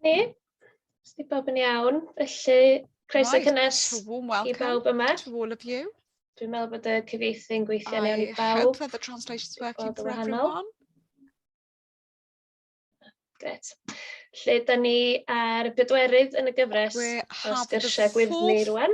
Ni, os di bob yn iawn, felly croeso right. cynnes i bawb yma. To all of you. Dwi'n meddwl bod y cyfeithi yn gweithio iawn i bawb. I hope that the translation's working for everyone. Gret. Lle, da ni ar y pedwerydd yn y gyfres o sgyrsiau gwyddni rwan.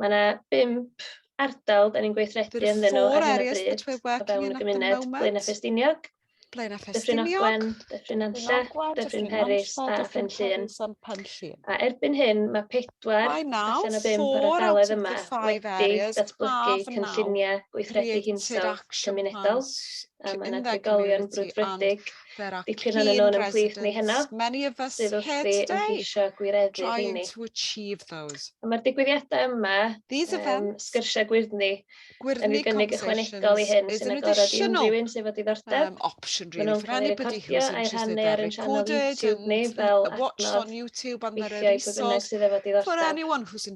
Mae yna bump ardal da ni'n gweithredu There are ynddyn nhw four ar hyn o areas bryd that we're o working fewn y in at the gymuned, Blaenau moment. Ffestiniog, Blaenau Dyffryn Ffestiniog, Ogwen, Dyffryn Nantlle, Ogwen, Dyffryn Dyffryn Peris Nantlle, a Dyffryn Phen Llŷn. Peris a'n Pen Llŷn. A erbyn hyn mae pedwar By now, allan o bump o'r four out ardaloedd of yma the five wedi areas datblygu have now cynlluniau gweithredu created hinsawdd action cymunedol plans a mae yna trigolion brwdfrydig dipyn yn nhw'n ymhlith ni heno sydd wrthi yn ceisio gwireddu hynny. Mae'r digwyddiadau yma, um, sgyrsiau gwyrddni, yn ei gynnig ychwanegol i hyn sy'n agorad i unrhyw un sydd fod diddordeb. Um, option really for anybody who's interested they're recorded and, and watched on YouTube and they're released for anyone who's interested.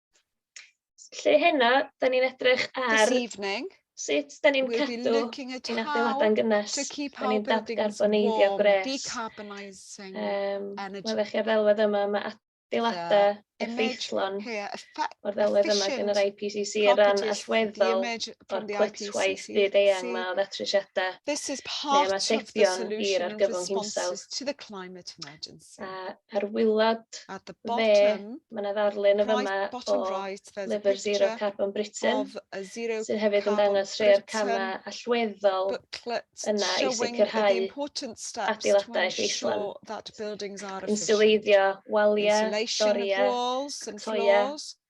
Lle heno, da ni'n edrych ar... This evening, sut da ni'n cadw ein adeiladau'n gynnes, da ni'n dadgarboneiddio gwres. Um, mae fe chi ar ddelwedd yma, mae adeiladau effeithlon o'r ddelwedd yma gan yr IPCC ar ran allweddol o'r clytwaith byd eang yma o ddatrisiadau neu ymatebion i'r argyfwng hinsawdd. A ar wylod dde, mae 'na ddarlun yn fama o lyfr Zero Carbon Britain, sydd hefyd yn dangos rhai o'r camau allweddol yna i sicrhau adeiladaeth Eistlon. Inswleiddio waliau, doriau, cloiau,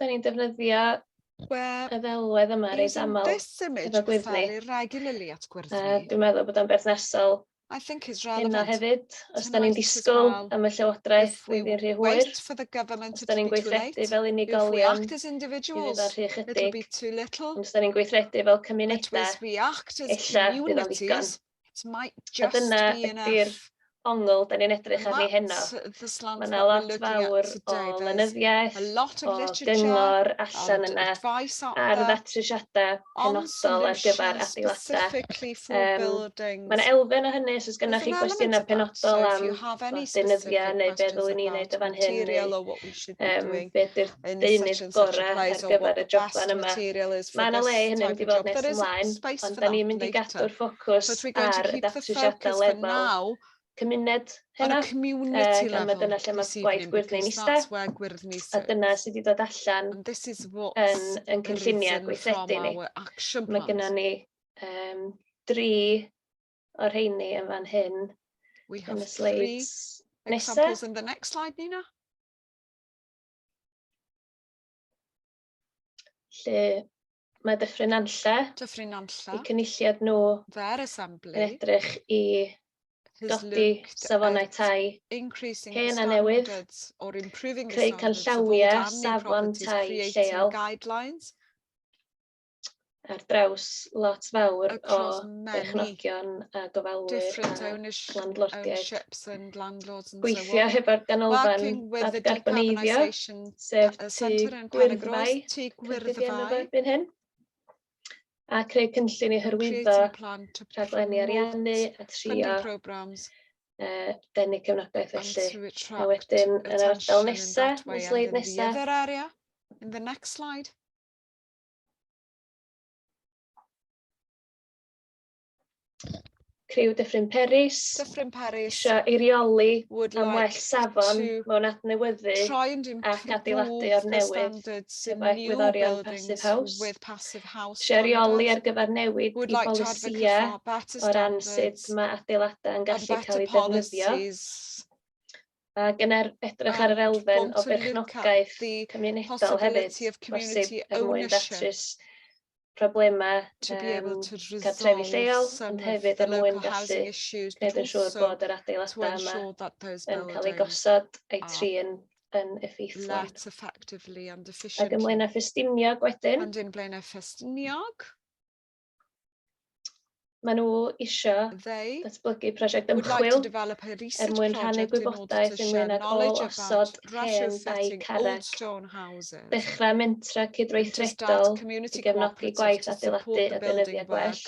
Da ni'n defnyddio Wel, y ddelwedd yma reit aml. Is this image efo gwddf ni. regularly at gwyrdd uh, ni? Dwi'n meddwl bod o'n berthnasol I think is relevant. Hynna hefyd, os da ni'n disgwyl well, am y llywodraeth flwyddyn rhy hwyr, os da ni'n gweithredu fel unigolion, i fydd o'n rhy chydig, os da ni'n gweithredu fel cymunedau, illa bydd o'n ddigon. It might just be enough. A dyna ydy'r ongl da ni'n edrych arni heno. Mae yna lot fawr o lenyddiaeth, o gyngor allan yna ar ddatrisiadau penodol ar gyfer adeiladau. Mae yna elfen o hynny os oes gennych chi gwestiynau penodol am denyddiau neu be ddylwn i wneud o fan hyn. um, be ydy'r deunydd gorau ar gyfer y joblan yma. Mae yna le hynny'n mynd i fod nes ymlaen, ond da ni'n mynd i gadw'r ffocws ar y datrysiadau lefel cymuned hynna. Community level. Mae dyna lle mae gwaith gwyrddni'n ista. A dyna sydd wedi dod allan yn, yn cynlluniau gweithredu ni. Mae gennym ni um, dri o'r rheini yn fan hyn. We have three examples in the next slide, Nina. Lle mae Dyffryn Anlle. Dyffryn Anlle. Y cynulliad nhw. Their assembly. Yn edrych i dodi safonau tai hen a newydd, creu canllawiau safon tai lleol, ar draws lot fawr o berchnogion a gofalwyr a landlordiaid. Gweithio hefo'r ganolfan adgarboneiddio, sef tu gwyrddfau, cyrddfau, hyn, a creu cynllun i hyrwyddo rhaglenni ariannu a trio uh, denu cefnogaeth felly. A wedyn yn yr ardal nesaf, y sleid nesaf. In the next slide. Criw Dyffryn Peris. Dyffryn Peris. Isio eirioli am well safon mewn adnewyddu ac adeiladu o'r newydd efo egwyddorion Passive House. With passive house Isio eirioli ar gyfer newid i bolisiau o ran sut mae adeiladau yn gallu cael eu defnyddio. a gynnar edrych ar yr elfen o berchnogaeth cymunedol hefyd, bosib er mwyn datrys problemau um, cartrefi lleol, ond hefyd er mwyn gallu gwneud yn siŵr bod yr adeiladau yma yn cael eu gosod a'i trin yn effeithlon. Ac ymlaen â ffestiniog wedyn. Ac ymlaen â ffestiniog. Maen nhw isio datblygu prosiect ymchwil er mwyn rhannu gwybodaeth ynglyn ag ôl osod hen dai carreg, dechrau mentrau cydweithredol i gefnogi gwaith adeiladu a deunyddiau gwell,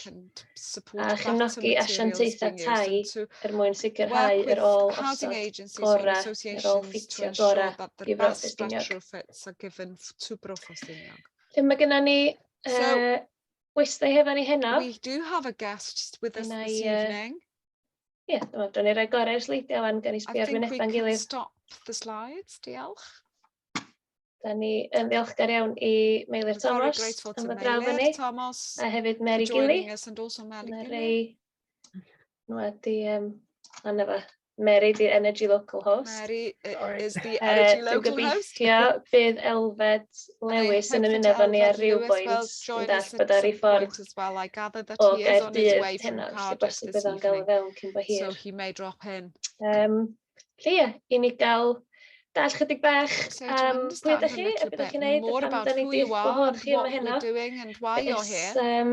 a chefnogi asiantaethau tai er mwyn sicrhau yr ôl osod gorau, yr ôl ffitio gorau i Fro Ffestiniog. Lle mae gennym ni uh, we stay hefo ni heno. We do have a guest with us this uh, evening. Ie, yeah, dwi'n dron i roi gorau i'r sleidiau fan, gan i sbio ar wynebau'n gilydd. I think we can stop the slides, diolch. Da ni yn ddiolchgar iawn i Meilir Thomas am y draw fyny. Thomas, a hefyd Mary Gilly. Joining us and also Mary Gilly. Nhw wedi um, anna fa, Mary, di'r energy local host. Mary is the energy local host. Dwi'n gobeithio bydd Elfed Lewis yn ymuno efo ni ar ryw bwynt yn dall bod ar ei ffordd o Gaerdydd heno, felly bosib bydd o'n gael fewn cyn bo hir. So he may drop in. Um, Felly ie, i ni gael dall chydig bach am pwy ydych chi, a beth ydych chi'n neud, a pam da ni wedi gwahodd chi yma heno. It's, um,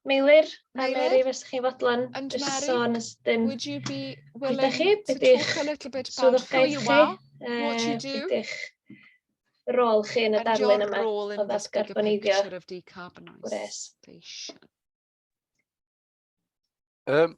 Meilir, a Mary, fes chi'n fodlon And just Mary, sôn ysdyn. Would you be willing chi, to talk a little bit about who you are, what you do, ydych rôl chi yn y darlun yma o ddatgarboneiddio gwres? Um,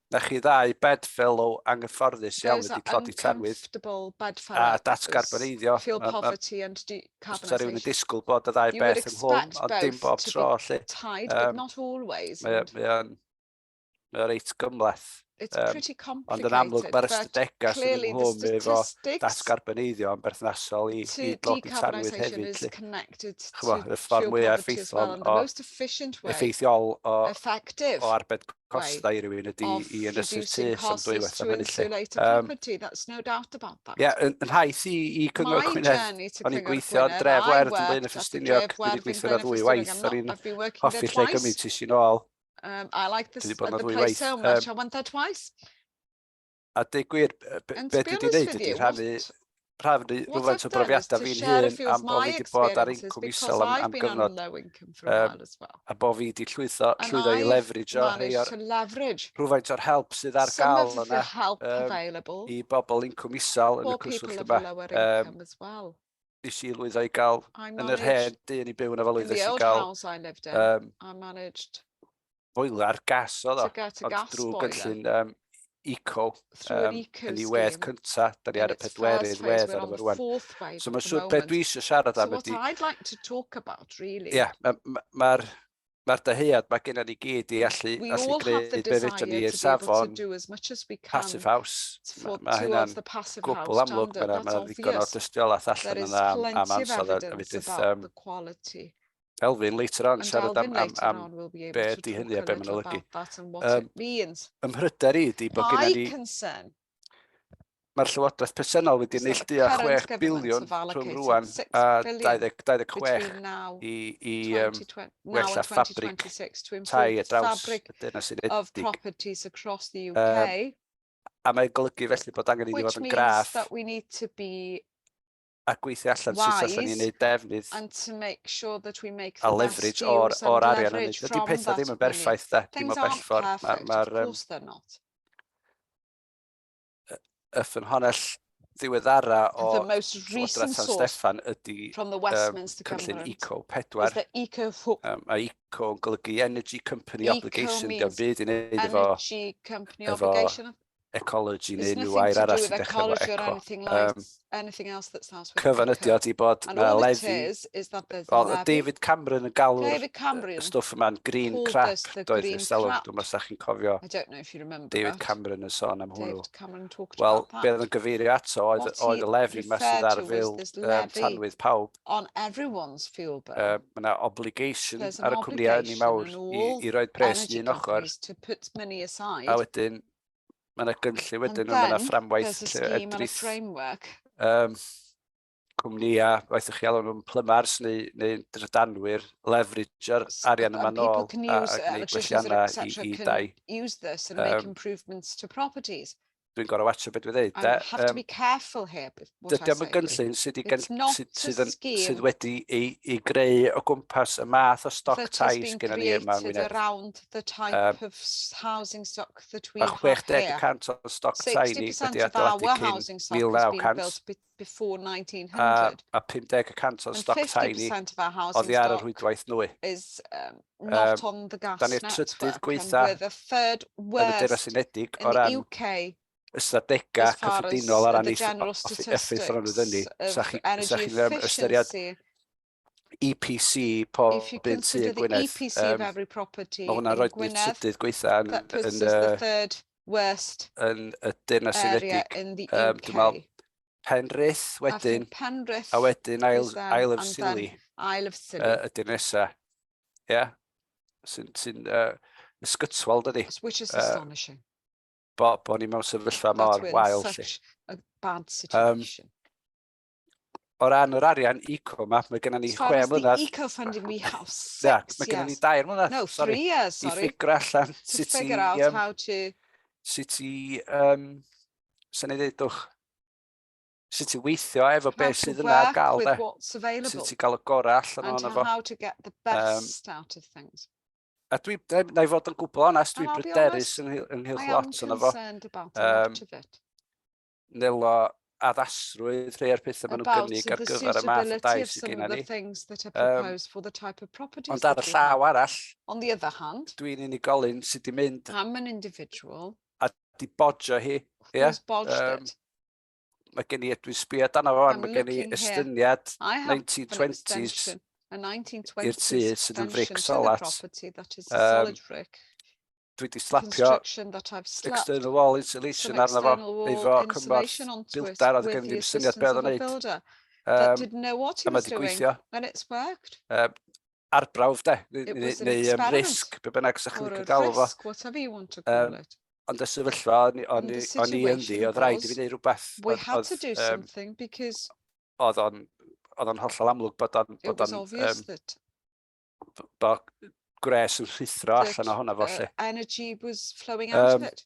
Na chi ddau bedfellow anghyfforddus iawn wedi tlodi tanwydd a datgarboneiddio. Fysa rhywun yn disgwyl bod y ddau beth ynghlwm, ond dim bob tro lly. Mae o'n reit gymhleth. Ond yn amlwg mae'r ystadegau sydd ynghlwm efo datgarboneiddio yn berthnasol i dlodi tanwydd hefyd lly. Chymod, y ffordd mwyaf effeithlon o effeithiol o arbed costau i rywun ydy i ynysu'r tu am dwy waith am hynny lle. Um, that's no doubt about that. Yeah, yn, yn haith i, i Cyngor Gwynedd, o'n i'n gweithio yn dref werdd yn Blaen y Ffestiniog, dwi wedi gweithio na ddwy waith, o'n i'n hoffi lle gymryd ti sy'n ôl. Um, I like this, the place so much, I went there twice. A dweud gwir, beth dwi wedi gwneud ydy rhannu rhannu rhywfaint o brofiadau fi'n hun am bod fi wedi bod ar incwm isel am, am gyfnod um, a bod fi wedi llwyddo, llwyddo i leverage o rhai o'r rhywfaint o'r help sydd ar gael yna um, i bobl incwm isel yn y cwswllt yma. Um, nes i lwyddo i gael yn yr hen du yn ei byw yna fel oedd nes i gael um, I managed boiler gas oedd o, ond drwy gynllun um, eco um, yn ei wedd cynta, da ni ar y pedwerydd wedd ar ymwyr rwan. So mae'n siŵr beth dwi eisiau siarad am ydy... So what I'd like to talk about, really... Ie, mae'r Mae'r dyhead mae gennym ni gyd i allu gwneud be fedrwn ni i'r safon Passive House. Mae hynna'n gwbl amlwg. Mae 'na ddigon o dystiolaeth allan yna am ansawdd a mi fydd Elfyn later on yn siarad am be ydy hynny a be mae'n olygu. Ym mhryder i ydy bod gennym ni Mae'r Llywodraeth presennol wedi neillduo 6 biliwn rhwng rwan a 2026 i wella ffabrig tai ar draws y Deyrnas Unedig, a mae'n golygu felly bod angen iddi fod yn graff. a gweithio allan sut allan ni'n neud defnydd a leverage o'r, or arian yn Ydy pethau ddim yn berffaith da, dim o bell ffordd. Mae'r ma y ffynhonell ddiweddara o Llywodraeth San Steffan ydy um, cynllun Eco 4. Um, a Eco yn golygu Energy Company Obligation, gan byd i wneud efo, efo ecology neu unrhyw air arall sy'n dechrau efo eco. Anything like, um, anything else that starts with cyfan ydi o di bod uh, lefi oedd David Cameron yn galw y stwff yma'n green crap doedd y selwg dwi'n meddwl sa'ch chi'n cofio David Cameron yn sôn am hwnnw wel be oedd yn gyfeirio ato oedd, oedd y lefi yma sydd ar fil um, tanwydd pawb on everyone's fuel bill uh, mae yna obligation ar y cwmnïau ni mawr i, i roed pres i un ochr a wedyn mae yna gynllun wedyn, mae yna fframwaith lle edrych um, cwmnïau, waith ych chi alw nhw'n plymars neu, neu drydanwyr, leveragio'r arian yma nôl a, a gwneud gwelliannau i, i dai. Um, Dwi'n gorau watcha beth dwi'n dweud. Um, have to be careful here. Dydy am y gynllun sydd, gen, sydd, sydd, yn, sydd wedi ei, ei greu o gwmpas y math o stoc tai sydd gennym ni yma yn Wynedd. Um, mae 60% o'r stoc tai ni wedi adeiladu cyn 1900 before 1900. A, a 50% o'r stoc tai ni oddi ar y rhwydwaith nwy. Is, um, not um, on the gas da ni'r trydydd gweitha yn y Deyrnas Unedig o ran UK ystadegau cyffredinol ar ran effeithio'r anwyddynu, sa chi'n ystyried EPC pob un tu yn Gwynedd. Mae hwnna'n rhoi nid trydydd gweitha yn y Deyrnas Unedig. Dwi'n meddwl Penrith wedyn, a wedyn Isle of Scilly ydy'r nesaf. Ie? Sy'n ysgytwol, dydi? Which is astonishing. bo, bo ni mewn sefyllfa mor wael. Such a bad situation. Um, o ran yr arian eco yma, mae gennym ni chwe mlynedd. eco funding we have six, yeah, mae gennym ni dair mlynedd. No, sorry, three years, sorry. I ffigur allan sut i... figure out um, how to... Sut i... Um, sy'n ei ddeudwch? sut i weithio efo beth sydd yna ar gael de. Sut i gael y gorau allan o'n efo. Um, a dwi, na i fod yn gwbl onest, dwi'n bryderus ynghylch lot o'n efo. Um, Nelo addasrwydd rhai o'r pethau maen nhw'n gynnig ar gyfer y math o dai sydd gen ni. Um, ond ar y llaw arall, dwi'n unigolyn sydd wedi mynd a di bodjo hi. Yeah? Um, Mae gen i, dwi'n sbio dan o fan, mae gen i estyniad 1920s i'r tu sydd yn fric solat. Um, dwi wedi slapio external wall insulation arno fo, efo cymorth bildar, oedd gen i ddim syniad beth oedd o'n neud. Um, a mae wedi gweithio. Um, arbrawf de, neu um, risg, be bynnag sy'ch chi'n galw fo. Risk, what have you want to call it. Ond y sefyllfa, o'n i ynddi, oedd rhaid i fi wneud rhywbeth. We had to do something because... Oedd o'n oedd o'n hollol amlwg bod o'n... It was obvious that... Bod gwres yn rhithro allan o hwnna fo lle. Energy was flowing out of it.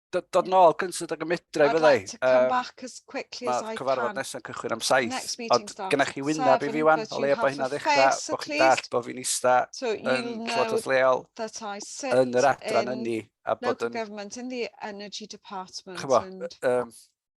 dod yn ôl cyntaf ag y medra i fyddai. Mae cyfarfod nesaf cychwyn am saith. Ond gyda chi wyneb i fi wan, o leia bod hynna ddechrau, bod chi'n dall bod fi'n eista yn llywodraeth leol, yn yr adran ynni, a bod yn... Chyfo,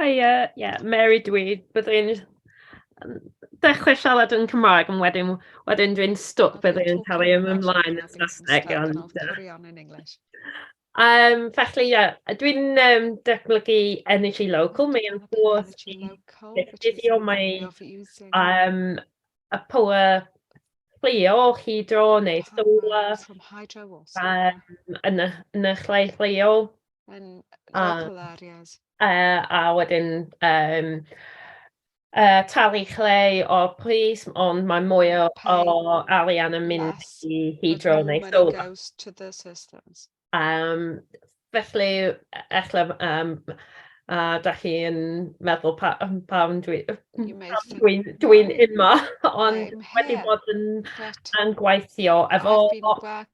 Hiya, ie, Mary dwi. Byddai'n dechrau siarad yn Cymraeg, ond wedyn wedyn dwi'n stwc, byddai'n cael ei ymlaen yn Saesneg. Ond yy... Yym, felly ie, dwi'n yym datblygu Energy Local, mae o'n gwrs i ddefnyddio mae yym y power plio hydro neu solar yym yn y yn y lle lleol. yn local areas. A, a wedyn um, uh, talu chleu o pris, ond mae mwy o, o alian yn mynd yes. i hydro neu solar. goes to the systems. Um, felly, efallai, um, a da chi yn meddwl pa, pam dwi'n dwi, dwi yma, ond wedi bod yn, yn gweithio efo... I've been work,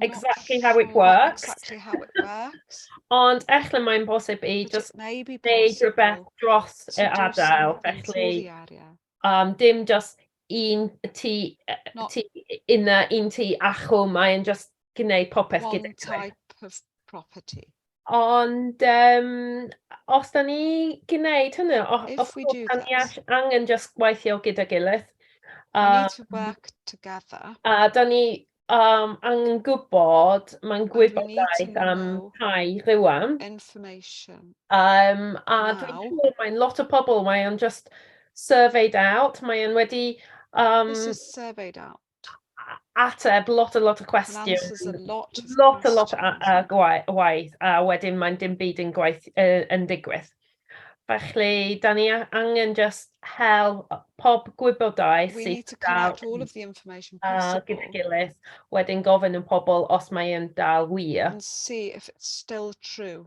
exactly how it works... not sure exactly how it works ...ond ella mae'n bosib i jyst wneud rhywbeth dros yr ardal, felly yym dim jyst un tŷ yy tŷ un yy un tŷ achub, mae e'n jyst gwneud popeth gyda ti... One type of property. Ond yym os 'dan ni gwneud hynny o- os... If we do that... ...os 'dan ni all- angen jyst gweithio gyda'i gilydd a... We need to work together... a 'dan ni yym angen gwbod mae'n gwybodaeth am Cai rŵan... Information ...a yym a dwi'n siŵr mae'n lot o pobl mae o'n jyst surveyed out mae e'n wedi yym... This is surveyed out. ateb lot a lot o cwestiwn. Lot a lot o gwaith, a wedyn mae'n dim byd yn gwaith uh, yn digwydd. Felly, da ni angen just hel pob gwybodaeth sydd dal a gyda gilydd, wedyn gofyn yn pobl os mae'n dal wir. And see if it's still true.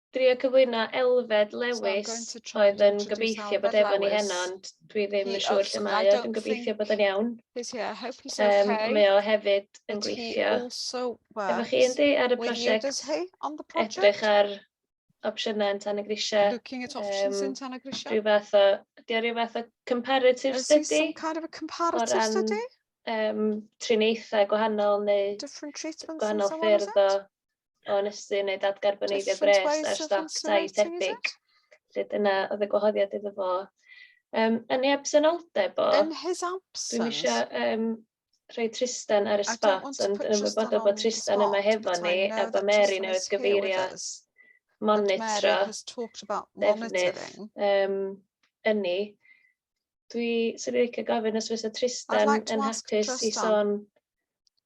Drio cyflwyno Elfed Lewis oedd yn gobeithio bod efo ni heno, ond dwi ddim yn siŵr lle mae o, dwi'n gobeithio bod o'n iawn. Um, mae o hefyd yn gweithio efo chi yndi ar y prosiect edrych ar opsiynau yn tan y grisiau. Looking at options um, in tan y grisiau. Rhyw fath o, di o rhyw fath o comparative Is study? Is some kind of a comparative ran, study? Um, triniaethau gwahanol neu gwahanol ffyrdd o o ynysu neu dadgarboneiddio gwres ar stoc tai tebyg. Felly dyna oedd y gwahoddiad iddo fo. Um, yn ei absenoldeb o... In his absence? Dwi'n eisiau um, rhoi Tristan ar y spot, ond yn ymwybodol bod Tristan yma hefo ni, a bod Mary newydd gyfeirio at monitro defnydd um, ynni. Dwi, sy'n licio gofyn os fysa Tristan yn hapus i sôn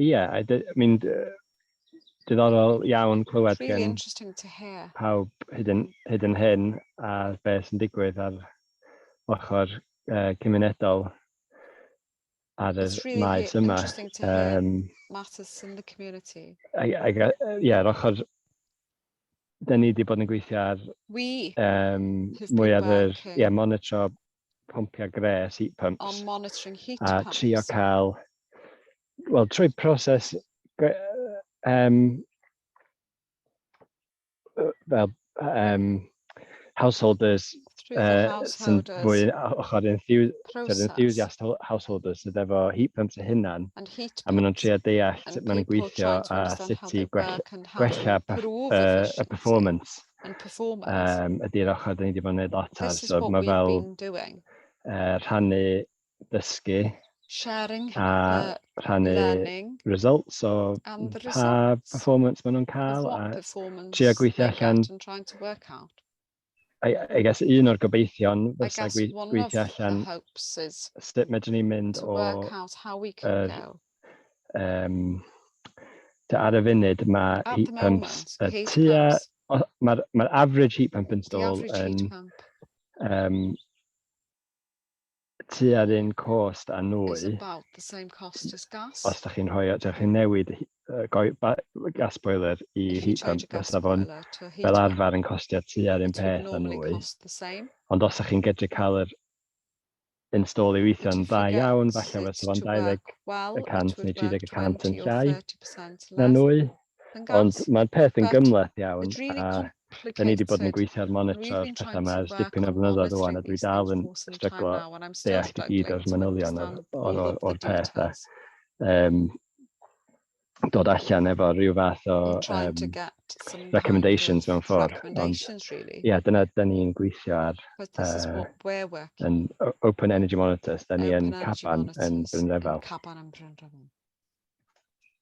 Ie, I mean, diddorol iawn clywed really gen interesting to hear. pawb hyd yn, hyd yn hyn ar beth sy'n digwydd ar ochr uh, cymunedol ar y really maes yma. Um, matters in the community. Ac, yeah, ar ochr da ni wedi bod yn gweithio ar um, mwy ar yr yeah, monitro pompiau gres, heat pumps. On monitoring heat a pumps. A trio cael, wel, trwy proses um, fel um, householders uh, sy'n fwy ochr enthusiast householders sydd efo heat pumps y hunan a maen nhw'n trio deall sut maen nhw'n gweithio a sut i gwella y performance um, ydy'r ochr dyn ni wedi bod yn gwneud lot ar so mae fel uh, rhannu dysgu sharing a rhannu learning, results o pa performance maen nhw'n cael a trio gweithio allan I, I guess un o'r gobeithion fysa gwe gweithio allan sut medrwn ni mynd o... Er, um, ar y funud mae heat pumps y tua... Mae'r ma average heat pump install yn um, tua'r un cost â nwy. Is about the same cost as gas. Os da chi'n rhoi, da chi'n newid gas boiler i heat pump, fysa fo'n fel arfer yn costio tua'r un peth â nwy. Ond os da chi'n gydru cael yr install i weithio'n dda iawn, falle fysa fo'n 20 y cant neu 30 y cant yn llai na nwy. Ond mae'r peth yn gymhleth iawn a da ni wedi bod yn gweithio ar monitro'r pethau yma ers dipyn o flynyddoedd rwan a dwi dal yn stryglo deall i gyd o'r manylion o'r, o'r, o'r, or peth a um, dod allan efo rhyw fath o um, recommendations mewn ffordd. Ond ie, yeah, dyna da ni'n gweithio ar uh, yn Open Energy Monitors, da ni yn Caban yn Brynrefel.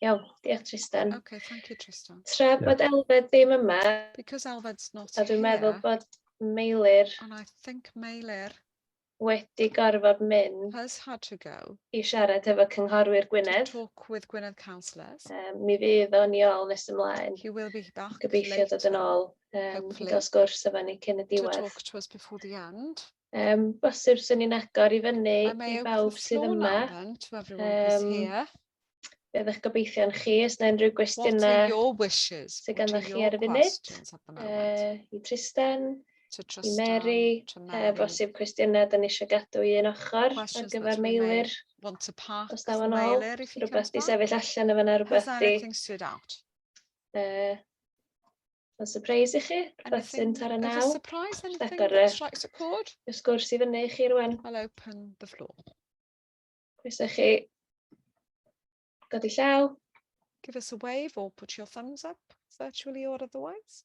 Iawn, diolch Tristan. Okay, thank you Tristan. Tra yeah. bod Elfed ddim yma, Because Elfed's not a dwi'n meddwl bod Meilir and I think Meilir wedi gorfod mynd has had to go i siarad efo cynghorwyr Gwynedd. To talk with Gwynedd councillors. Um, mi fydd o'n i ôl nes ymlaen. He will be back Gobeithio dod yn ôl um, i gael sgwrs efo ni cyn y diwedd. To talk to us before the end. Um, bosib swn ni'n agor i fyny i bawb sydd yma. Um, be ydych gobeithio'n chi, os na unrhyw gwestiynau sydd gan chi ar y funud, uh, i Tristan, Tristan i Mary, uh, bosib cwestiynau da ni eisiau gadw i un ochr ar gyfer Meilir, os da fo'n ôl, rhywbeth di sefyll allan o fyna, rhywbeth di uh, Mae'n surprise i chi, rhywbeth sy'n tar y naw. Anything, surprise, anything that strikes a chord? Y sgwrs i fyny i chi rwan. I'll open the floor. Croeso chi. Godi llaw. Give us a wave or put your thumbs up, virtually or otherwise.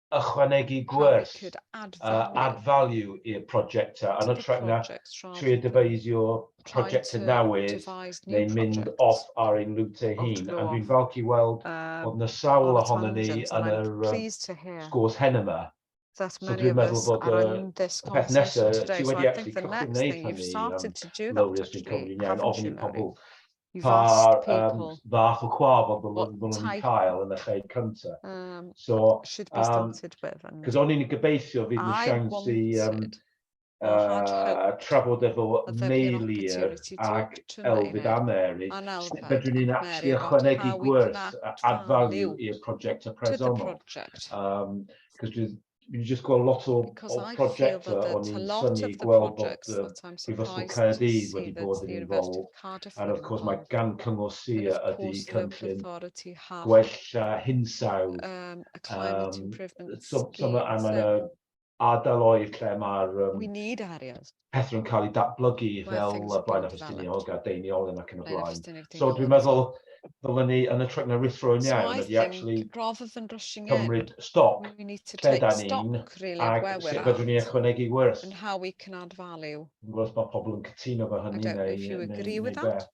ychwanegu gwers a add value i'r prosiectau yn hytrach na trio dyfeisio prosiectau newydd neu mynd off ar ein route ei hun. A dwi'n falch i weld bod yna sawl ohonon ni yn yr sgwrs hen yma. So dwi'n meddwl bod y peth nesaf, ti wedi actually cychwyn wneud hynny, Lowri, os dwi'n cymryd yn iawn, ofyn i pobl pa um, fath o claf oedd bod nhw'n nhw cael yn y lle cyntaf. Um, so, um, cos o'n i'n gobeithio fydd nhw'n siawns i um, uh, trafod efo Meilir ac Elfyd a Mary, sut fedrwn ni'n actually ychwanegu gwerth add value i'r prosiect y presonol. Um, cos dwi'n Dwi 'di jyst gweld lot o o prosiectau o'n i'n synnu gweld bod yy Prifysgol Caerdydd wedi bod yn involved and of course mae gan Cyngor Sir ydi cynllun gwella hinsawdd yym so so ma' a ma' 'na ardaloedd lle ma'r yym pethau yn cael eu datblygu fel Blaenau Ffestiniog a Deiniolen ac yn y blaen. So dwi'n meddwl ddylen ni yn y tryc na rithro yn iawn ydy actually cymryd stoc lle da ni'n ac sut fydrwn ni ychwanegu wrth. Yn how we can add value. Dwi'n gwybod os mae pobl yn cytuno fo hynny neu beth.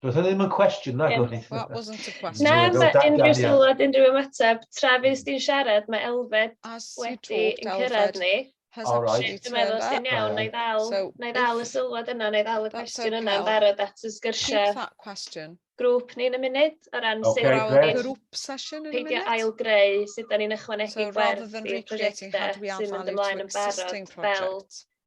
Does yna ddim yn cwestiwn, na gwn i. That wasn't a question. Na, mae unrhyw sylwad, unrhyw ymateb. Tra fi ysdi'n siarad, mae Elfed wedi yn cyrraedd ni. All right. Dwi'n meddwl os ti'n iawn, na i ddal, na i ddal y sylwad yna, na i ddal y cwestiwn yna yn barod at y sgyrsiau. Keep that question. Grŵp ni'n y munud, o ran okay, sut... Our group session in a minute. Peidio ail greu sut da ni'n ychwanegu so, gwerth i'r prosiectau sy'n mynd ymlaen yn barod fel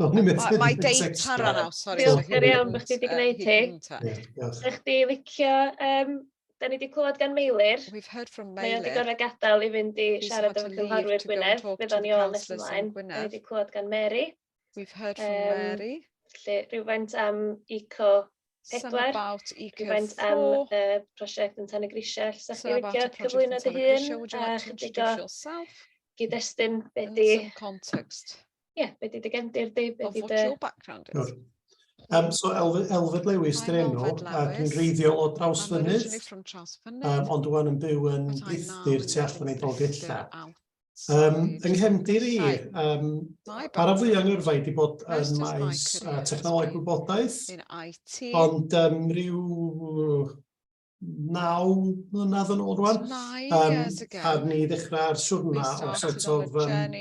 O'n i'n methu gwneud sex drive. Mae date para nawr, sori. Diolch yn iawn bod chdi wedi gwneud hi. Sa chdi licio... Dan ni wedi clywed gan Meilir. We've heard from Meilir. Mae o wedi gorfod gadael i fynd i siarad efo cynghorwyr Gwynedd. Bydd o'n iawn nes ymlaen. Dan ni wedi clywed gan Mary. We've heard from Mary. Felly, rhywfaint am Eco 4. Some about Eco 4. Rhywfaint am y prosiect yn Tan y Grisiau. Sa chdi licio cyflwyno dy hun? Would you like to introduce yourself? Gyd-destun, be di... Some context. yeah, be di dy gefndir di, be di dy... background is. Um, so Elfed, Elfed Lewis dyn enw, ac yn reiddiol o draws fynydd, um, ond dwi'n yn byw yn brithyr tu allan i Dolgella. Um, yng nghefndir i, um, ar y fwy yng Nghyrfa wedi bod yn maes uh, technoleg gwybodaeth, ond um, rhyw naw mlynedd yn ôl rwan, um, a ni ddechrau'r siwrna o sort of um,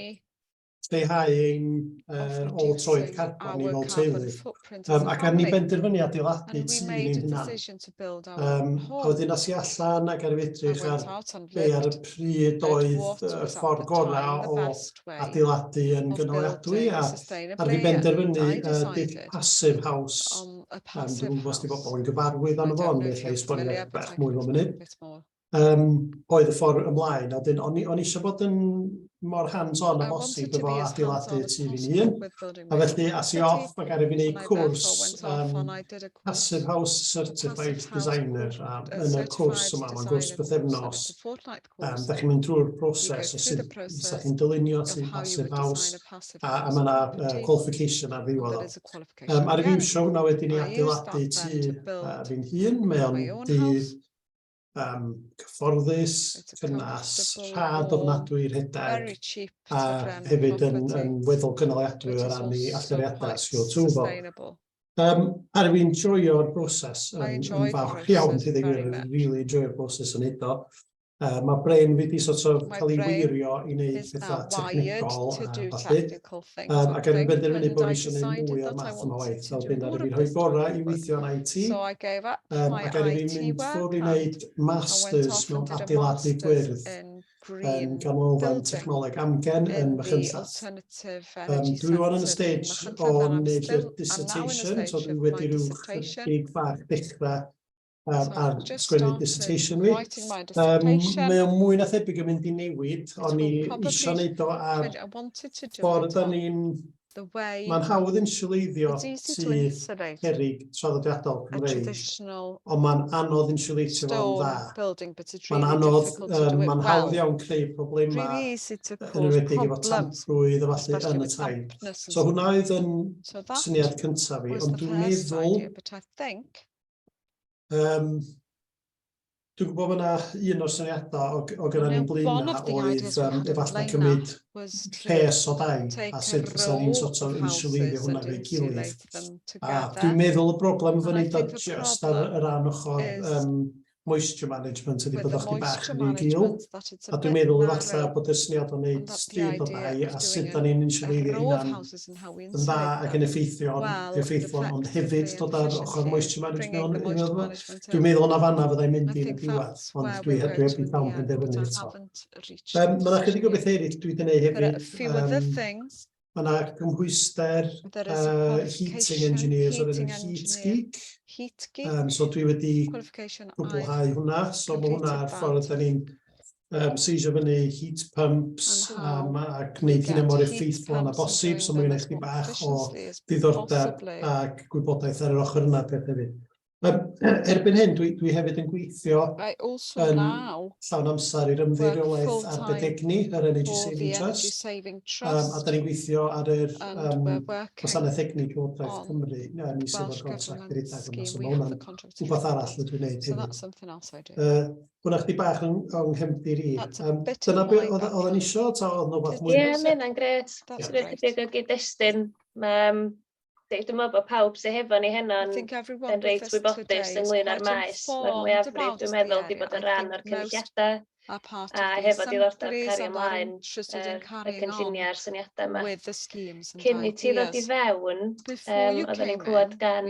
lleihau ein uh, ôl troed carbon ni fel teulu. Um, ac ar ni benderfynu adeiladu tu ni hynna. Um, a wedyn as i allan ac ar i edrych ar be ar y pryd oedd y ffordd gorau o adeiladu yn gynaliadwy a ar fi benderfynu uh, Dick Passive House. Um, Dwi'n gwybod os di bobl yn gyfarwydd â'n fo, ond neu lle i sbonio bach mwy o munud. um, oedd y ffordd ymlaen. A dyn, o'n i, on eisiau bod yn mor hands-on a bosib efo adeiladu tu fi'n hun. A felly, as i off, mae gael ei wneud cwrs um, Passive House Certified Designer. A yn y cwrs yma, mae'n gwrs bythefnos. Um, da chi'n mynd drwy'r broses o sut da chi'n dylunio tu Passive House. A, a mae yna uh, qualification ar ddiwedd. Um, ar y fiwsio hwnna wedyn i adeiladu tu uh, fi'n hun, mae'n dydd um, cyfforddus, cynnas, rhad ofnadwy rhedeg, a hefyd yn, yn weddol gynaliadwy o ran ei alluriadau CO2 fo. Um, ar fi'n joio'r broses yn, yn fawr iawn, ti ddim yn really joio'r broses yn edo. Uh, mae brain fi wedi sort of cael ei weirio i wneud pethau technegol a falle. Yym, ac er fi'n benderfynu bod fi eisiau gwneud mwy o'r math yma o waith, fel dwi'n dweud, fi'n rhoi gorau i weithio yn IT, yym, ac er fi'n mynd ffwrdd i wneud masters mewn adeiladu gwyrdd yn Ganolfan Technoleg Amgen yn Machynlleth. Yym, dwi rŵan yn y stage o wneud fy dissertation, so dwi wedi rhyw chydig bach dechrau um, ar sgwennu dissertation fi. Um, mae o'n mwy na thebyg yn mynd i newid, o'n i eisiau gwneud o ar ffordd da ni'n... Mae'n hawdd insuleiddio sydd herig traddodiadol Cymreig, ond mae'n anodd insuleitio fo'n dda. Mae'n anodd, um, mae'n hawdd iawn creu problemau yn ymwedig efo tamprwydd a falle yn y tai. So hwnna oedd yn syniad cyntaf fi, ond dwi'n meddwl Um, Dwi'n gwybod bod yna un o'r syniadau o, o gyda ni blin na oedd um, efallai cymryd rhes o dau a sut fysa ni'n sort of insuleirio hwnna fe gilydd. A dwi'n meddwl y broblem fyny dod just ar y ran ochr um, moisture management ydy bod o'ch bach yn ei gil. A dwi'n meddwl efallai bod y syniad o'n neud stryd o dau a sut da ni'n insuleirio hynna'n yn dda ac yn effeithiol, effeithlon, ond hefyd dod ar ochr moisture management mewn un o'r Dwi'n meddwl na fanna fyddai'n mynd i'r diwedd, ond dwi heb dwi heb di llawn penderfynu eto. Um, mae yna chydig o bethau eraill dwi wedi gwneud hefyd. Um, mae yna cymhwyster uh, heating engineers o'r enw Heat Geek. Heat Geek. Um, so dwi wedi cwblhau hwnna, so mae hwnna ar ffordd da ni'n um, seisio fyny heat pumps um, a gwneud hynny mor effeithlon yna bosib, so mae'n eich bach o ddiddordeb ac gwybodaeth ar yr ochr yna peth hefyd. Um, erbyn hyn, dwi, dwi hefyd yn gweithio yn llawn amser i'r ymddeiriolaeth ar bedegni, yr Energy Saving Trust, um, a da ni'n gweithio ar yr um, gwasanaeth egni Llywodraeth Cymru, a ni sydd o'r contract i redag yma, so mae hwnna'n rhywbeth arall dwi'n gwneud hefyd. Uh, Hwna chdi bach yn o'n nghefndir i. Um, dyna beth oedd o'n e isio, ta oedd nhw fath mwy? Ie, mae hynna'n gret. Dwi'n ychydig o gyd-destun. Um, Dwi'n meddwl bod pawb sy'n hefo ni heno yn reit wybodus ynglyn â'r maes. Mae'r mwyafrif, dwi'n meddwl, wedi bod yn rhan o'r cynulliadau a hefo diddordeb cario ymlaen y cynlluniau a'r syniadau yma. Cyn i ti ddod i fewn, oedden ni'n clywed gan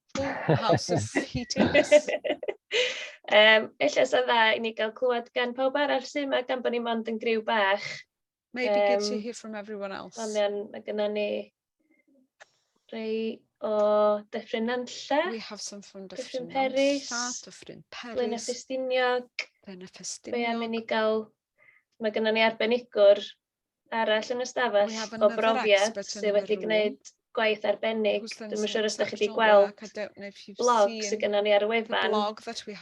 Ooh, how solicitous. um, ella sy'n dda i ni gael clywed gan pawb arall sy'n yma gan bod ni mond yn griw bach. Maybe um, good to hear from everyone else. Ond iawn, mae gyda ni rei o Dyffryn Nantlle. We have some from Dyffryn, Dyffryn Peris. Nantlle, Dyffryn Peris. Blaen Ffestiniog. Blaen Ffestiniog. Fe am i ni gael... Mae gyda ni arbenigwr arall yn y stafell o brofiad sydd wedi gwneud gwaith arbennig. Dwi'n siŵr os ydych chi wedi gweld blog sydd gennym ni ar y wefan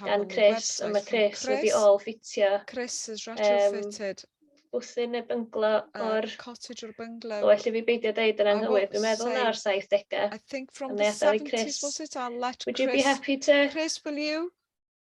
gan Chris, ond mae Chris wedi ôl ffitio um, bwthyn neu bynglo o'r... Cottage o'r bynglo. O, allu fi beidio dweud yn anghywir, dwi'n meddwl na o'r 70au. I think from the 70s, was it? I'll let Chris... Would you be happy to... Chris, will you?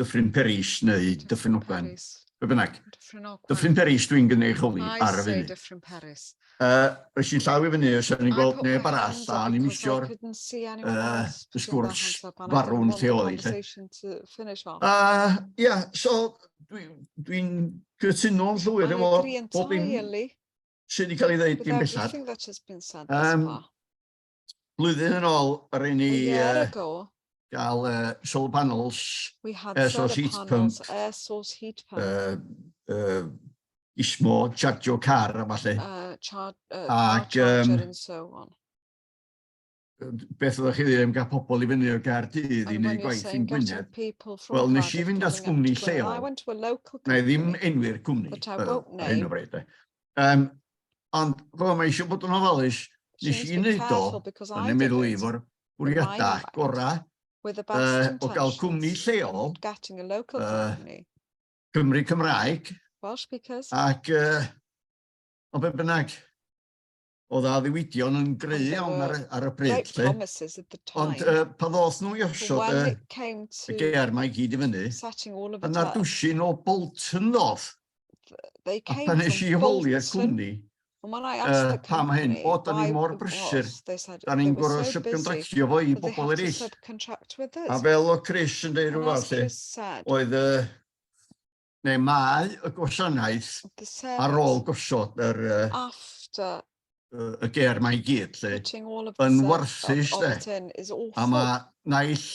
Dyffryn Peris neu Dyffryn Ogwen, be bynnag. Dyffryn Peris dwi'n gynnig holi ar y funud. Uh, Ys i'n llaw i fyny, os i'n gweld neb arall, a ni'n misio'r uh, sgwrs farwn lle oedd i. Uh, yeah, so dwi'n dwi cytuno'n llwyr efo bob un sydd wedi cael ei ddweud i'n bellach. Um, Blwyddyn yn ôl, rhaid ni gael uh, solar panels, We had air source heat panels, pump, air source heat pump. Uh, uh, ismo, chargio car a falle. Uh, char uh, car Ac, charger um, and so on. Beth oeddech chi ddim gael pobl i fyny o'r gair dydd i wneud gwaith i'n Gwynedd? Wel, nes i fynd at gwmni lleol. Na i ddim enwi'r cwmni ar hyn o bryd. Um, ond fel mae eisiau bod yn ofalus, nes i wneud o yn y meddwl i fo'r bwriadau gorau uh, o gael cwmni lleol uh, Cymru Cymraeg ac uh, o be bynnag oedd a ddiwydion yn greu iawn ar, ar y bryd. Lle. Ond uh, pa ddoth nhw i osod y, y ger mae gyd i fyny, yna dwsin o Bolton ddoth. A pan nes i holi'r cwmni, uh, pam hyn, o, da ni mor brysur, da ni'n gorau subcontractio fo i bobl eraill. A fel o Chris yn dweud rhywbeth, oedd y neu mae y gwasanaeth ar ôl gosod yr y ger mae i gyd lle yn warthus lle a mae naill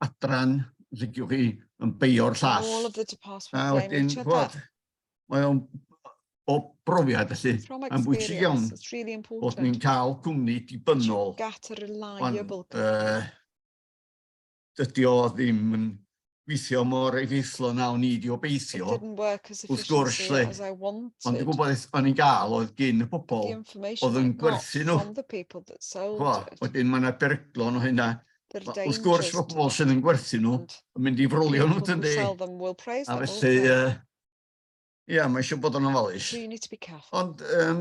adran licio chi yn beio'r llall a wedyn bod mae o'n o brofiad felly yn bwysig iawn bod ni'n cael cwmni dibynnol ond uh, dydy o ddim yn gweithio mor effeithlon a o'n i wedi obeithio, wrth gwrs, lle, ond y gwybodaeth o'n i'n gael oedd gyn y pobl oedd yn gwerthu nhw. Chwa, wedyn mae yna beryglon o hynna. Wrth gwrs, mae pobl sydd yn gwerthu nhw yn mynd i frolio nhw, dyn di. A felly, ia, yeah, mae eisiau bod yn ofalus. Ond, um,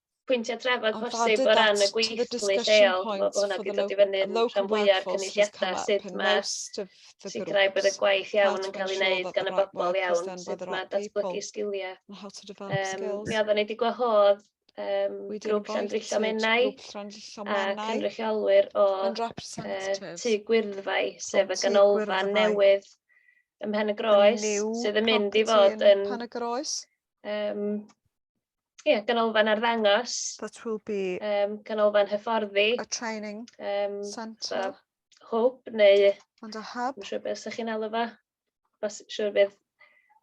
pwyntiau trafod posib o ran y gweithlu lleol, mae hwnna wedi dod i fyny yn rhan fwyaf cynulliadau sut mae sicrhau bod y gwaith iawn yn cael ei wneud gan y bobl iawn, sut mae datblygu sgiliau. Um, mi oeddwn i wedi gwahodd um, grŵp Llandrillo Menai a cynrychiolwyr o uh, tu Gwyrddfau, sef y ganolfan newydd ym Mhen y Groes, sydd yn mynd i fod yn... Pan y Groes? Um, ie, ganolfan arddangos. That will be... Um, ganolfan hyfforddi. A training um, centre. So, hwb neu... And a hub. Mae'n siŵr beth ydych chi'n alw fo. Mae'n siŵr beth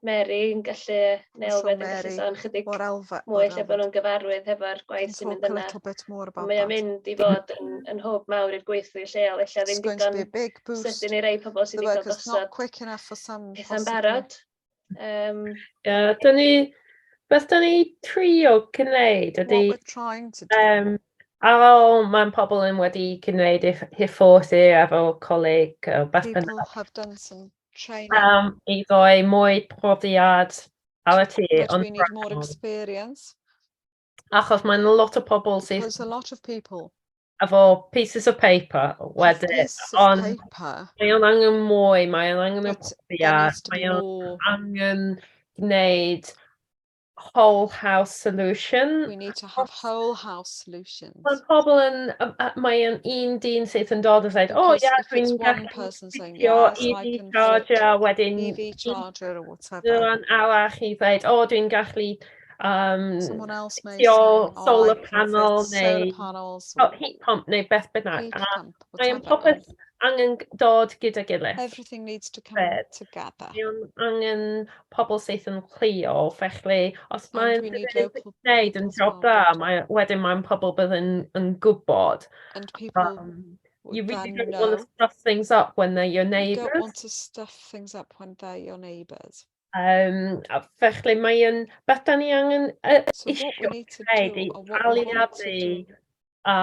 Mary yn gallu, neu Elfed yn gallu sôn chydig mwy lle bod nhw'n gyfarwydd hefo'r gwaith sy'n mynd yna. Mae o'n mynd i fod yn, yn hwb mawr i'r gweithlu lleol, eich ddim digon sydyn i rei pobl sydd wedi cael gosod pethau'n barod. Um, yeah, da ni... Beth da ni trio gwneud ydy... What we're trying to do. Um, ar ôl mae'n pobl yn wedi gwneud hyfforsi efo coleg o beth bynnag. People have done some training. Um, I ddoi mwy profiad ar y tu. But we need more experience. Achos mae'n lot o pobl sydd... There's a lot of people. Efo pieces of paper wedyn. Pieces of ond... paper. Mae o'n angen mwy, mae o'n angen y profiad, mae o'n angen gwneud whole house solution. We need to have whole house solutions. Mae pobl yn, mae o'n un dyn sydd yn dod yn dweud, o oh, yeah, dwi'n gallu ffitio EV charger wedyn. EV charger or whatever. Dyna'n arall i dweud, o, oh, dwi'n gallu Um, Someone else may say, oh, solar oh, panel neu panels, oh, heat pump neu beth bynnag. Heat pump, mae yn popeth angen dod gyda gilydd. Everything needs to come Fed. together. Mae angen pobl syth yn cleo, felly os mae'n gwneud yn job da, mae, wedyn mae'n pobl bydd yn, yn gwybod. And people um, You really don't know. want to stuff things up when they're your neighbours. You don't want to stuff things up when they're your neighbours. Yym, a felly mae yn... Beth dan ni angen yy isio gwneud ydy aliadu a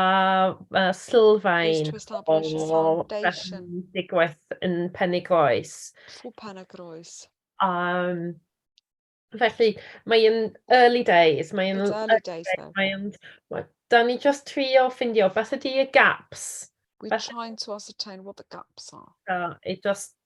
a sylfaen o beth sy'n digwydd yn Penygroes. Yym, felly mae yn early days, mae yn... early days nawr. ...mae yn... wel, dan ni jyst trio ffeindio beth ydy y gaps. We're trying to ascertain what the gaps are. Yy, i jyst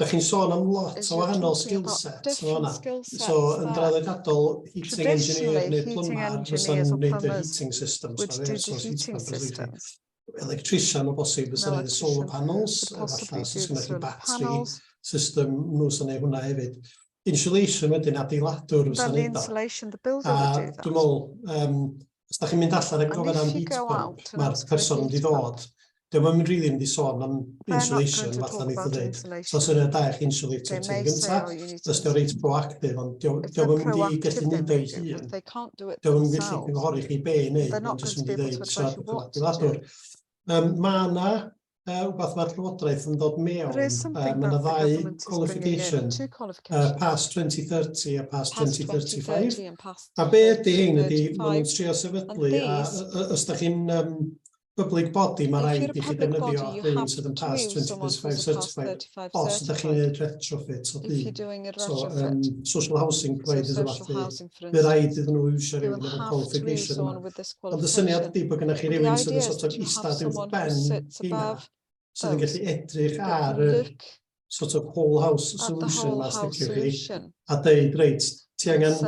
Dach chi'n sôn am lot o wahanol skillsets yn fan'na. So yn draddodiadol heating engineer neu plumber fysa'n neud y heating systems ma air source heat pumps a felly. Electrician o bosib fysa'n neud y solar panels efallai os oes gennoch chi battery system nhw sy'n neud hwnna hefyd. insulation wedyn, adeiladwr fysa'n neud o. Insulation, the builder would do that. A dwi'n meddwl, um, os da chi'n mynd allan ac gofyn am heat pump, mae'r person wedi dod, dyma yn rili mynd i sôn am insulation, fatha ni ddweud. So sy'n rhaid da eich insulator ti'n gynta, os diolch reit proactive, ond diolch yn mynd i gallu mynd o'i hun. Diolch yn mynd i gallu gynghori chi be i wneud, ond jyst yn mynd i ddeud, so, adeiladwr. Um, mae yna uh, rhywbeth mae'r Llywodraeth yn dod mewn. There is something um, that the government is bringing in, two qualifications. Uh, past 2030 a past, past 2035. and past a be ydy hyn ydy, maen nhw'n trio sefydlu, a os da chi'n um, public body, mae rhaid i chi defnyddio hyn sydd yn past 2035 certified, os da chi'n gwneud retrofit o byd. So, um, social housing providers so, social housing Bydd rhaid iddyn nhw iwsio rhywun yn y qualification yma. Ond y syniad ydy bod gennych chi rhywun sydd yn sort of eistedd i'w ben hynna, sydd yn gallu edrych ar y sort of whole house solution mas diciwch chi, a dweud, reit, ti angen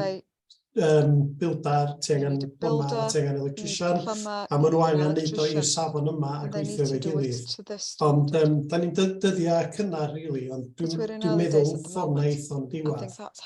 um, bildar, ti angen plymar, ti angen electrician, a maen nhw angen neud o i'r safon yma a gweithio fe gilydd. Ond um, da ni'n dyddiau cynnar, really, ond dwi'n dwi meddwl ffordd na eithon diwedd.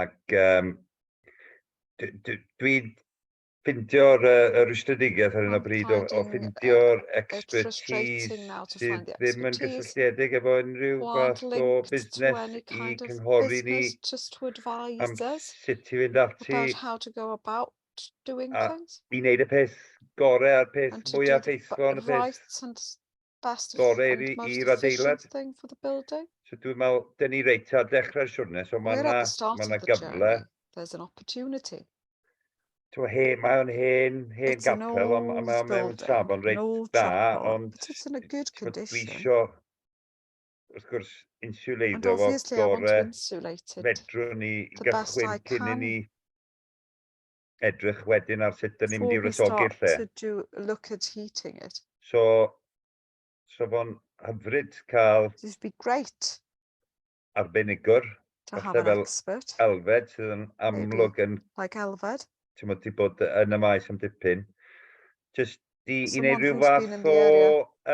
Ac um, dwi'n ffindio'r uh, rwystredigaeth ar hyn o bryd o, o ffindio'r expertise sydd ddim yn gysylltiedig efo unrhyw fath o busnes i cynghori ni am sut i fynd ati doing a, things. I wneud y peth gorau a'r peth mwyaf ffeithlon y peth. Right and best Gorau and most i'r adeilad. thing for the building. So dwi'n meddwl, dyn ni reit ar dechrau'r siwrne, so mae yna ma ma gyfle. There's an opportunity. Twa, he, mae o'n hen, hen it's gapel, ond mae o'n mewn safon reit da, ond... But it's in a good condition. Dwi isio, wrth gwrs, insuleiddo fo gore fedrwn ni gychwyn cyn i ni edrych wedyn ar sut dyn ni'n mynd i wresogi'r lle. To do, look at heating it. So, so fo'n hyfryd cael... It would be great. ...arbenigwr. To have an expert. Elfed sydd yn amlwg yn... Like Elfed. Ti'n mwyn ti bod yn y maes am dipyn. Just i, i wneud rhyw fath o...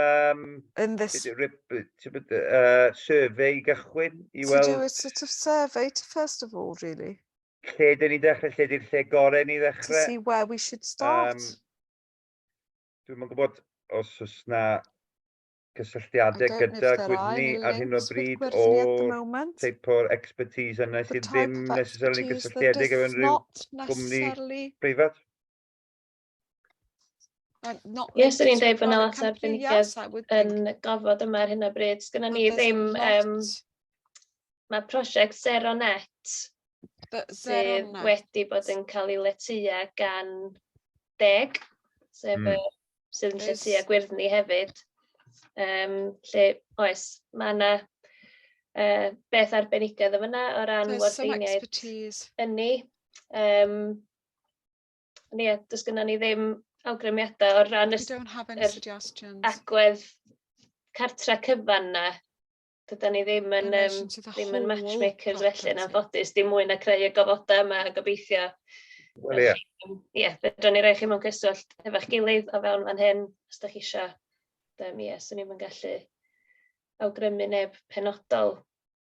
Um, in this... Uh, survey i gychwyn i weld... To do a sort of survey to first of all, really. Lle dyn ni'n dechrau? Lle di'r lle gorau ni ddechrau? To see where we should start. Um, Dwi'n gwybod os oes na cysylltiadau gyda gwydni ar hyn o bryd o teip o'r expertise yna sydd ddim necessarily cysylltiedig efo unrhyw gwmni preifat? Ie, swn i'n dweud bod yna lot o arbenigedd yn gofod yma ar hyn o bryd. Sgynna ni ddim... Um, mae prosiect Zero Net sydd wedi bod yn cael ei letua gan deg, sef mm. y sydd yn lletua gwyrddni hefyd. Um, lle, oes, mae yna uh, beth arbenigedd yn fyna o ran wardeiniaid ynni. Um, Ond ie, does gyda ni ddim awgrymiadau o'r rhan yr agwedd cartre cyfan na. Dyda ni ddim yn, um, ddim yn matchmakers felly yn anffodus, dim mwy na creu y gofodau yma a gobeithio. Wel ie. Ie, fedrwn ni roi chi mewn cyswllt efo'ch gilydd o fewn fan hyn, os da chi eisiau. Ie, swn ni'n gallu awgrymu neb penodol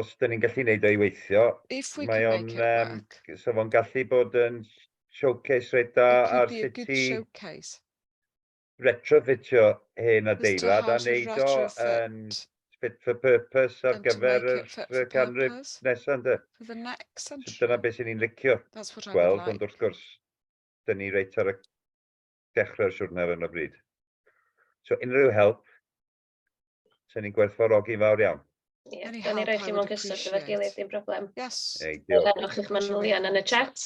os dyn ni'n gallu wneud o i weithio, mae o'n, so fo'n gallu bod yn showcase reit da ar sut i retrofitio hen adeilad a wneud o yn fit for purpose ar gyfer y canrif nesaf ynde. So dyna beth sy'n ni'n licio gweld, ond wrth gwrs, dyn ni reit ar y dechrau'r siwrne ar hyn o bryd. So unrhyw help Sen ni'n gwerthfawrogi fawr iawn. Ie, Very da ni help, roi I chi mewn would cysylltu efo'r appreciate. gilydd, dim problem. Yes. Ei, Fel diolch. rhanwch eich manylion yn y chat.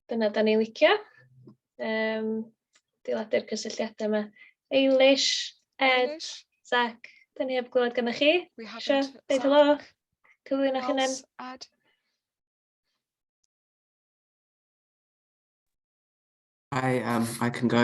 Dyna da ni licio. Um, diladu'r cysylltiadau yma. Eilish, Ed, Eilish, Zach, da ni heb glywed gyda chi. We Sure, haven't. deud Zach, helo. Cyflwyno chi hunan. Pals, Ed. I um I can go.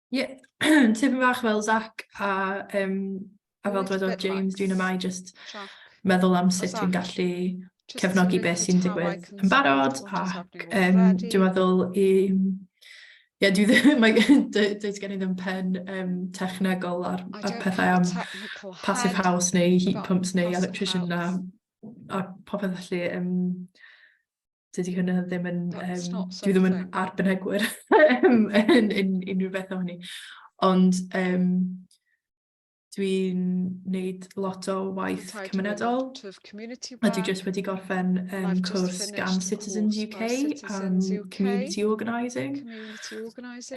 Ie tipyn bach fel Zach a yym a fel dwedodd James dwi'n yma i jyst meddwl am sut dwi'n gallu cefnogi beth sy'n digwydd yn barod ac yym dwi'n meddwl i Ie dwi ddim mae does gen i ddim pen yym technegol ar ar pethau am passive house neu heat pumps neu electrician na a popeth felly yym dydy hynna ddim yn... Um, dwi ddim yn arbenigwyr yn, yn, yn unrhyw beth o hynny. Ond um, dwi'n wneud lot o waith cymunedol a dwi jyst wedi gorffen um, cwrs gan Citizens UK am community organising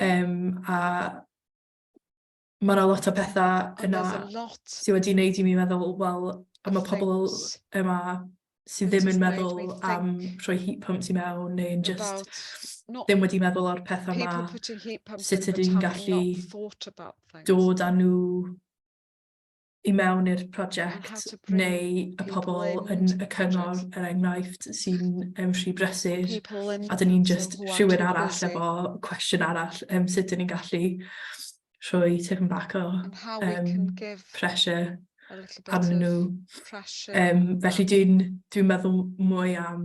um, a mae yna lot o pethau yna sydd wedi wneud i mi meddwl, wel, a mae pobl yma sydd ddim yn meddwl am rhoi heat pumps i mewn neu'n just ddim wedi meddwl o'r pethau yma, sut ydyn ni'n gallu dod â nhw i mewn i'r prosiect neu y pobl yn y cyngor er enghraifft sy'n um, rhy brysur a dyn ni'n just rhywun arall efo cwestiwn arall um, sut dyn ni'n gallu rhoi tipyn bach o um, pressure arnyn nhw. Um, felly dwi'n dwi meddwl mwy am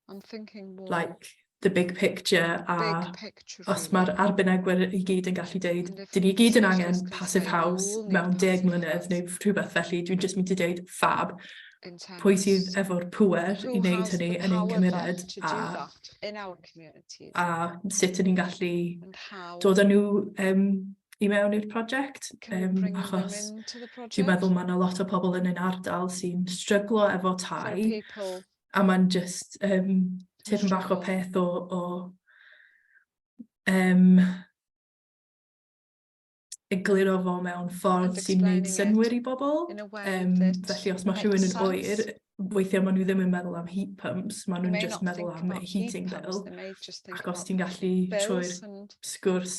I'm thinking more. Like the big picture a big picture os mae'r arbenigwyr i gyd yn gallu deud, dyn ni gyd yn angen passive house mewn deg mlynedd neu rhywbeth felly, dwi'n just mynd i deud fab, pwy sydd efo'r pwer i wneud hynny yn ein cymuned a, a sut yn ni'n gallu dod â nhw um, i mewn i'r prosiect, um, achos dwi'n meddwl mae yna lot o pobl yn ein ardal sy'n stryglo efo tai, a mae'n just um, tipyn bach o peth o, o um, egluro fo mewn ffordd sy'n gwneud synwyr i bobl. Um, felly os mae rhywun yn oer, weithiau maen nhw ddim yn meddwl am heat pumps, maen nhw'n just meddwl am heating bill. Ac os ti'n gallu trwy'r sgwrs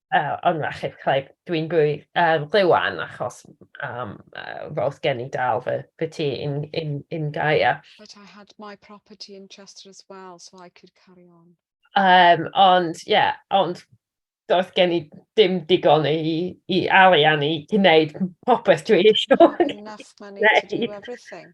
Yy ond na chei chei dwi'n rwy yym Glywan achos yym yy ro'dd gen i dal fy fy tŷ in in in Gaea. But I had my property in Chester as well so I could carry on. Yym ond ie ond do'dd gen i dim digon i i arian i gneud popeth dwi isio gneud. Enough money to do everything.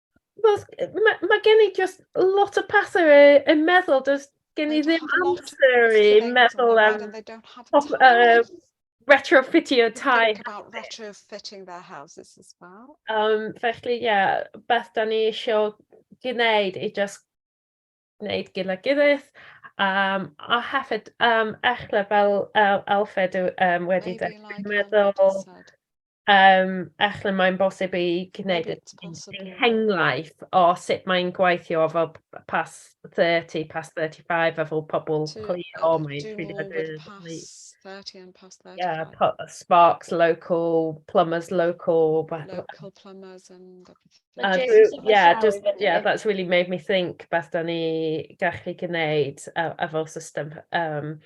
Wel, mae ma gen i just lot o pethau yn meddwl, does gen i ddim amser i meddwl am uh, retrofitio tai. about retrofitting their houses as well. Um, felly, ie, yeah, beth da ni eisiau gwneud i just wneud gyda gilydd um, a hefyd um, echle fel uh, Alfred um, wedi dweud, meddwl um, echle mae'n bosib i gwneud hengraif o sut mae'n gweithio fel pas 30, pas 35 a fel pobl cli o mae 30 30 and past 30. Yeah, Sparks local, plumbers local. Local plumbers and everything. A dwi, yeah, just, yeah, that's really made me think beth da ni gallu gwneud a, a fel system. Um,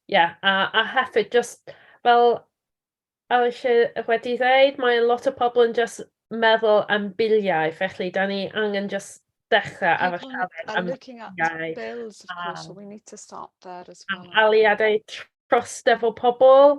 yeah, a, a hefyd just fel a eisiau wedi dweud, mae lot o pobl yn just meddwl am biliau, felly da ni angen just dechrau a fy siarad am biliau. Bills, of course, so we need to start there as well. Aliadau trostefol pobl,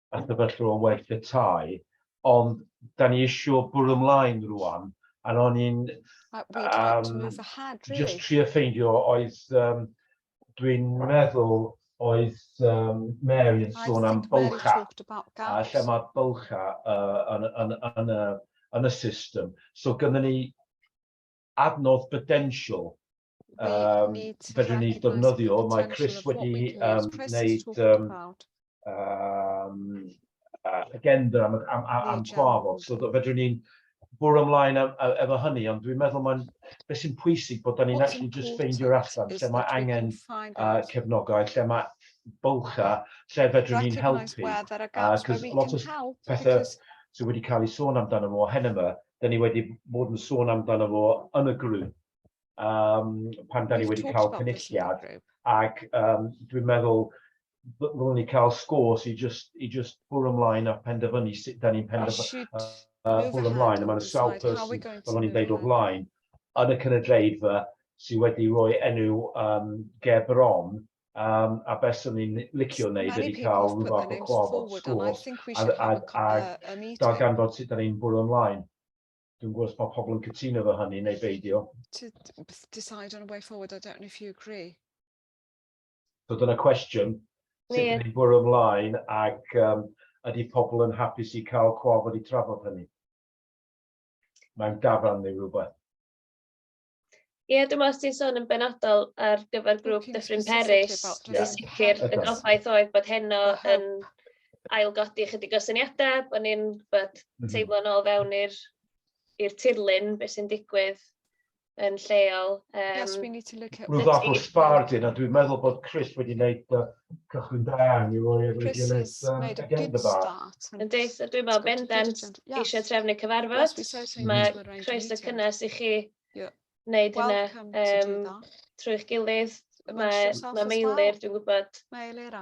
y sefyllfa o waith y tai, ond da ni eisiau bwrw ymlaen rwan, a o'n i'n um, just trio ffeindio oedd, um, dwi'n meddwl oedd um, Mary yn sôn am bylcha, a lle mae bylcha uh, yn, yn, yn, yn, yn y system. So gyda ni adnodd bydensiol um, fedrwn ni defnyddio. Mae Chris wedi um, wneud um, um, agenda am, am, am, am trafod, so fedrwn ni'n bwrw ymlaen efo hynny, ond dwi'n meddwl mae'n beth sy'n pwysig bod ni'n actually just ffeindio'r allan lle mae angen uh, cefnogau, lle mae bylcha, lle fedrwn ni'n helpu. Cos lot o pethau sydd wedi cael ei sôn amdano fo hen yma, 'da ni wedi bod yn sôn amdano fo yn y grŵp, um, pan 'da ni wedi cael cynulliad, ac um, dwi'n meddwl ddylwn ni cael scores i just, i just bwrw ymlaen a penderfynu sut da ni'n penderfynu uh, uh, bwrw ymlaen, a mae'n sawl person, fel o'n i'n deud o flaen, yn y cynulleidfa sydd wedi rhoi enw um, ger bron Um, a beth sy'n ni'n licio wneud ydy cael rhyw fath o clof o sgwrs a, a, a gael ganfod sut da ni'n bwrw ymlaen. Dwi'n gwybod bod pobl yn cytuno fo hynny neu beidio. To decide on a way forward, I don't know if you agree. So dyna cwestiwn, sut yeah. ni'n bwrw ymlaen ac um, ydy pobl yn hapus i cael clof wedi trafod hynny? Mae'n dafarn neu rhywbeth. Ie, dwi'n meddwl os ti'n sôn yn benodol ar gyfer grŵp Dyffryn Peris, yn sicr y gobaith oedd bod heno yn ailgodi chydig o syniadau, bod ni'n bod mhm. teimlo'n ôl fewn i'r i'r tirlun, beth sy'n digwydd yn lleol. Um, yes, we need to look at... Rwy'n fath o sbardyn, a dwi'n meddwl bod Chris wedi gwneud uh, cychwyn da iawn i roi efo'i gilydd um, again the bar. Yndi, so dwi'n meddwl bendant eisiau trefnu cyfarfod. Mae croeso cynnes i chi wneud hynna um, trwy'ch gilydd. Mae, mae Meilir, dwi'n gwybod,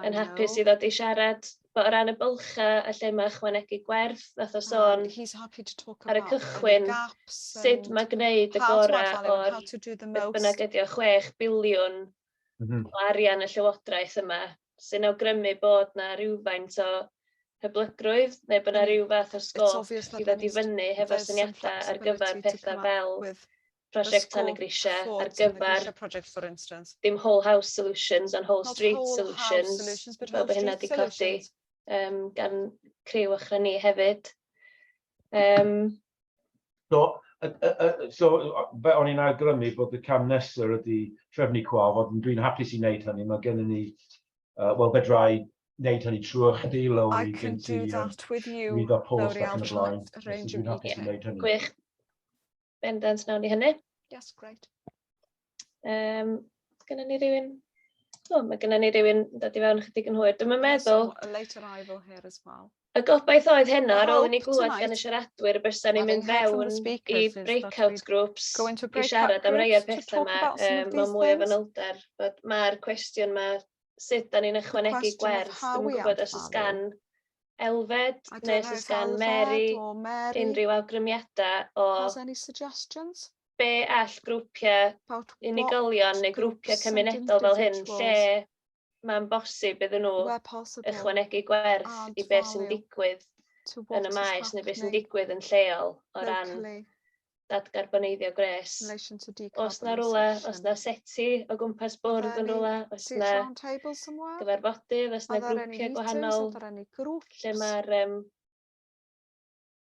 yn hapus i ddod i siarad bod o ran y bylcha a lle mae chwanegu gwerth, nath o sôn ar y cychwyn, sut mae gwneud y gorau o'r beth bynnag ydi o 6 biliwn mm -hmm. o arian y Llywodraeth yma, sy'n awgrymu bod na rhywfaint o hyblygrwydd neu bod yna rhyw fath o sgôp i ddod i fyny hefo syniadau ar gyfer pethau fel prosiect tan y grisiau ar gyfer dim whole house solutions and whole street solutions fel bod hynna wedi codi um, gan criw ochr ni hefyd. Um, So, y, y, y, so fe o'n i'n awgrymu bod y cam nesaf ydy trefnu cwa, fod dwi'n hapus i wneud hynny, mae gennym ni, uh, wel fedrai wneud hynny trwy chdi, Lowri, gen ti rwydd a post ac yn y blaen. Dwi'n hapus i wneud hynny. Gwych. Bendant nawn ni hynny. Yes, great. Um, Gynna ni rhywun... O, mae gynna ni rhywun yn dod i fewn ychydig yn hwyr. Dwi'n meddwl... A late arrival here as well. Y gobaith oedd heno, ar ôl i ni glwed gan y siaradwyr y bysa ni'n mynd fewn i breakout groups i siarad am rei o'r pethau yma um, mewn mwy o fanylder. Mae'r cwestiwn yma, sut da ni'n ychwanegu gwerth, dwi'n gwybod os ys gan Elfed neu os ys gan Mary unrhyw awgrymiadau o... Has any suggestions? be all grwpiau unigolion neu grwpiau cymunedol fel hyn lle mae'n bosib iddyn nhw ychwanegu gwerth i beth sy'n digwydd yn y maes neu beth sy'n digwydd yn lleol o ran dadgarboneiddio gwres. Os na rhywle, os na seti o gwmpas bwrdd yn rhywle, os na gyfarfodydd, os na grwpiau gwahanol, lle mae'r um,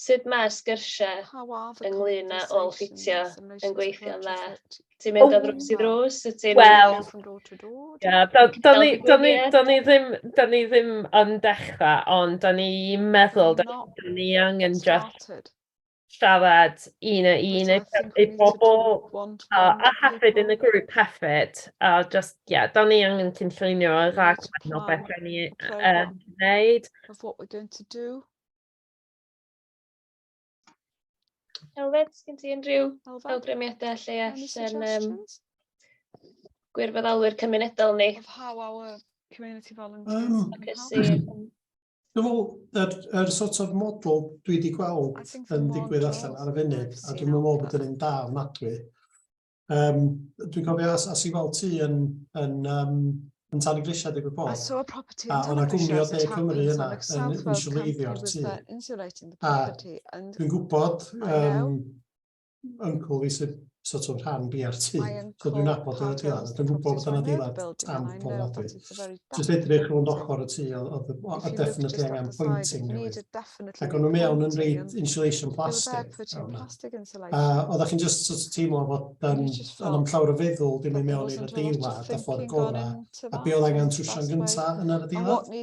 Sut mae'r sgyrsiau ynglyn â ôl-ffitio yn gweithio'n dda? Ti'n mynd o ddrws i ddrws? Wyt ti'n... Wel, ie, do'n ni do'n ni do'n ni ddim do'n ni ddim yn dechrau, ond do'n i'n meddwl do'n do'n ni angen jyst siarad un a un i i bobl, a a hefyd yn y grŵp hefyd, a jyst, ie, do'n ni angen cynllunio y rhaglen o beth o'n ni yn gwneud. Elfed, sgyn ti unrhyw awgrymiadau lle allan um, gwirfoddolwyr cymunedol ni? Of how our community volunteers um, can Dwi'n meddwl, yr, yr sort of model dwi wedi gweld yn digwydd allan ar y funud, a dwi'n meddwl bod yn un da ofnadwy, Um, dwi'n cofio as, as i weld ti yn, yn, um, yn tan y grisiau digwydd bod. I saw a property in tan y grisiau as it happens on Excel Flow Campy was there insulating the property. And dwi'n gwybod um, uncle fi sydd sort of rhan BRT. So dwi'n nabod o'r adeilad. Dwi'n gwybod bod yna adeilad am pobl adwy. Just edrych rhwng ochr y tu, oedd y definitely angen pointing newydd. Ac o'n nhw mewn yn reid insulation plastic. A oedd chi'n just sort of teimlo fod um, yn am llawr y feddwl ddim i mewn i'r adeilad a ffordd gorau. A be oedd angen trwsio'n gyntaf yn yr adeilad.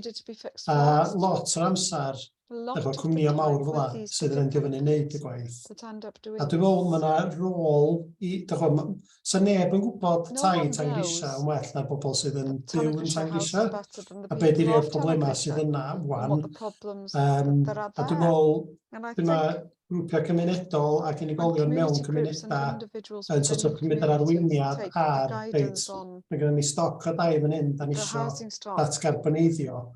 A lot o'r amser, efo cwmnïau mawr fel yna sydd yn endio fyny wneud y gwaith. A dwi'n meddwl mae yna rôl i, dych chi'n gwybod, sa neb yn gwybod tai Tangrisha yn well na bobl sydd yn byw yn Tangrisha, a be di rhei'r problemau sydd yna wan. Um, a dwi'n meddwl, dyma grwpiau cymunedol ac unigolion mewn cymunedau yn sort of cymryd yr arweiniad ar, reit, mae gennym ni stoc o dai fan hyn, da ni eisiau datgarboneiddio.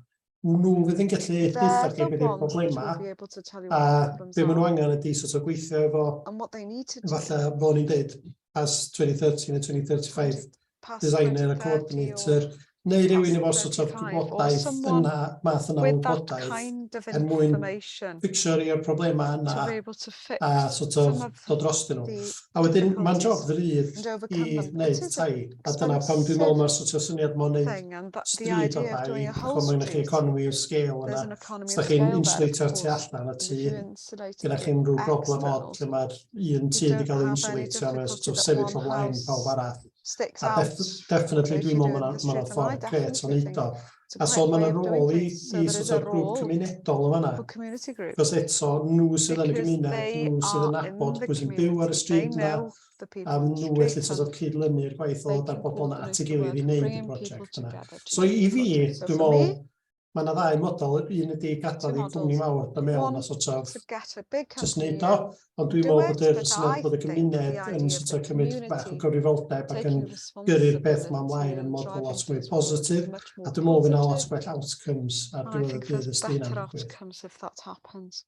nhw fydd yn gallu hithau chi beth yw'r problemau a be maen nhw angen ydy sort of gweithio efo fatha fel ni'n dweud as 2030 neu 2035 designer a coordinator neu rhywun efo sort of gwybodaeth yna math yna o gwybodaeth er mwyn fixio'r problemau yna a sort of dod drostyn nhw. A wedyn, mae'n job ddrydd i wneud tai. A dyna pam dwi'n meddwl mae'r sort of syniad mae'n wneud stryd o tai, chwa mae'n eich economi o scale yna. Os da chi'n insulator tu allan y tu, gyda chi'n rhyw broblem o'r lle mae'r un tu wedi cael ei insulator, mae'n sort of sefyll o flaen pawb arall. A definitely dwi'n meddwl mae'n ffordd gret o'n eiddo. o. A so ma' 'na rôl i i sort of grŵp cymunedol yn fan'na. Achos eto, nhw sydd yn y gymuned, nhw sydd yn nabod pwy sy'n byw ar y stryd 'na, a nhw felly sort of cyd-lynu'r gwaith o ddod â'r bobl 'na at ei gilydd i wneud y project yna. So i fi, dwi'n meddwl, ma' 'na ddau model, un ydi gadael i cwmni mawr, da mewn a sort of jyst wneud o, ond dwi'n meddwl bod yr syniad bod y gymuned yn sort of cymryd bach o gyfrifoldeb ac yn gyrru'r peth yma ymlaen yn modd bod lot mwy positif, a dwi'n meddwl fydd lot gwell outcomes ar diwedd y dydd ysdi hynna'n digwydd.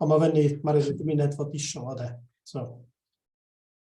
Ond mae fyny, mae'r gymuned fod eisiau o de. So.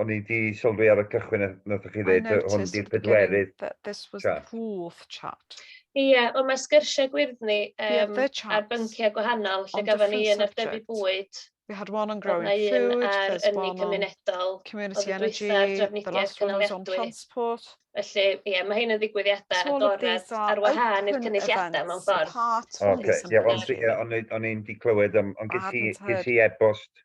o'n i di sylwi ar y cychwyn nath chi ddeud hwn di'r pedwerydd that this was the fourth chat. Ie, ond mae sgyrsiau gwyrddni um, ar bynciau gwahanol lle gafon ni yn ar dyfu bwyd. We had one on growing food, there's one on cymunedol, community energy, the last one was on transport. Felly, ie, mae hyn yn ddigwyddiadau agored ar wahân i'r cynulliadau mewn ffordd. Oce, ie, ond o'n i'n di clywed, ond ges i e-bost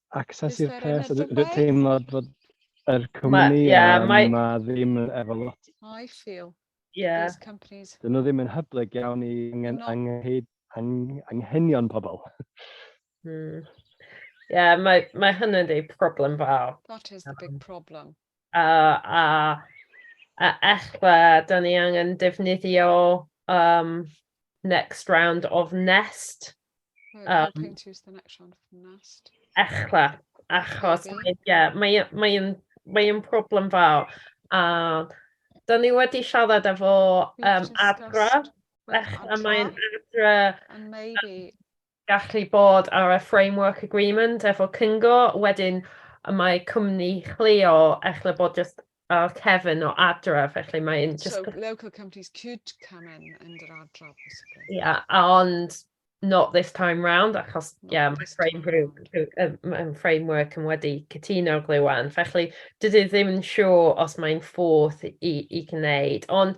access i'r pres, a dwi'n teimlo bod yr cwmni ma, yeah, my... ma ddim efo lot. I feel yeah. these companies. Dyn nhw ddim yn hyblyg iawn i angen, no. angen, angen, anghenion pobl. mm. Yeah, mae, mae hynny'n di problem fawr. That is the big um, problem. A, a, a echwa, da ni angen defnyddio um, next round of nest Um, Echla, achos mae, yeah, mae, mae, yn, mae yn problem fawr. A da ni wedi siarad efo um, adra, a mae'n adra gallu bod ar y framework agreement efo cyngo, wedyn mae cwmni chleo echla bod just O, Kevin o Adra, felly mae un jyst... So, local companies could come in under Adra, possibly. Yeah, ond not this time round, achos, ie, yeah, mae frame group, mae framework yn wedi cytuno glywed, felly dydw i ddim yn siŵr os mae'n ffordd i, i gwneud, ond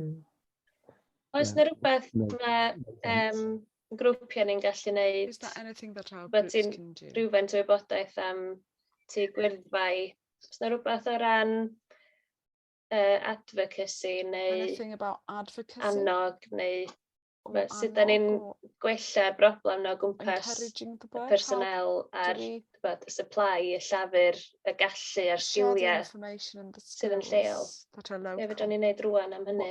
Mm. Oes yna rhywbeth mae um, grwpiau ni'n gallu neud? Bod ti'n rhywfaint o wybodaeth am tu gwyrddfau? Oes yna rhywbeth o ran uh, advocacy neu annog neu Fel sut 'dan ni'n gwella broblem 'na o gwmpas y personnel a'r t'bod y supply y llafur y gallu a'r sgiliau sydd yn lleol. Be' fedran ni wneud rŵan am hynny?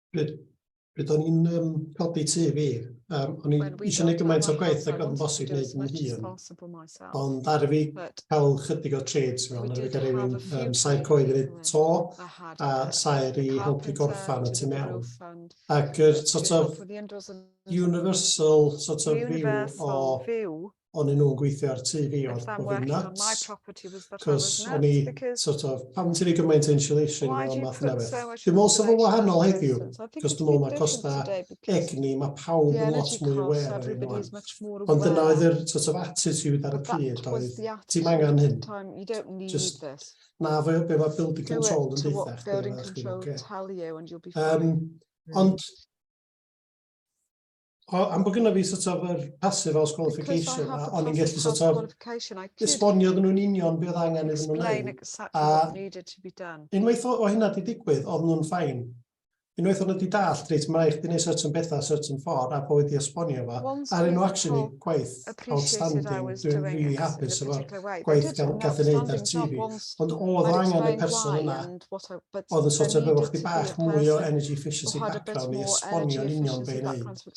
Pryd, pryd o'n i'n um, codi tu fi, um, o'n i eisiau gwneud gymaint o gwaith ac o'n bosib wneud yn hun. Ond ar fi cael chydig o trades mewn, ar fi gael rhywun um, sair coed yn ei to a sair i helpu gorffan y tu mewn. Ac yr sort of universal sort of view o o'n i'n nhw'n gweithio ar tŷ fi oedd bod fi'n nuts. Cos o'n i, sort of, pam ti'n ei gymaint insulation a math yna beth. Dwi'n meddwl sef o wahanol heddiw, cos dwi'n meddwl mae costa egni, mae pawb yn lot mwy aware ar hyn o'n. Ond dyna oedd yr sort of attitude ar y pryd oedd, ti'n angen hyn. Just, na, fe be mae building control yn ddeitha chdi. Building control tell you and you'll be fine. Um, ond, O, am bod gyda fi sort of yr passive house qualification, a o'n i'n gallu sort of esbonio ddyn nhw'n union beth angen iddyn nhw'n wneud. A unwaith o, o hynna di digwydd, oedd nhw'n ffain. Unwaith o'n nhw wedi dallt, reit, mae eich di wneud certain bethau, certain ffordd, a bod wedi esbonio fo. A rydyn nhw actually gwaith outstanding, dwi'n really hapus efo'r gwaith gath ei wneud ar TV. Ond oedd angen y person yna Oedd y sort of efo chdi bach mwy o energy efficiency background i esbonio'n union be i wneud.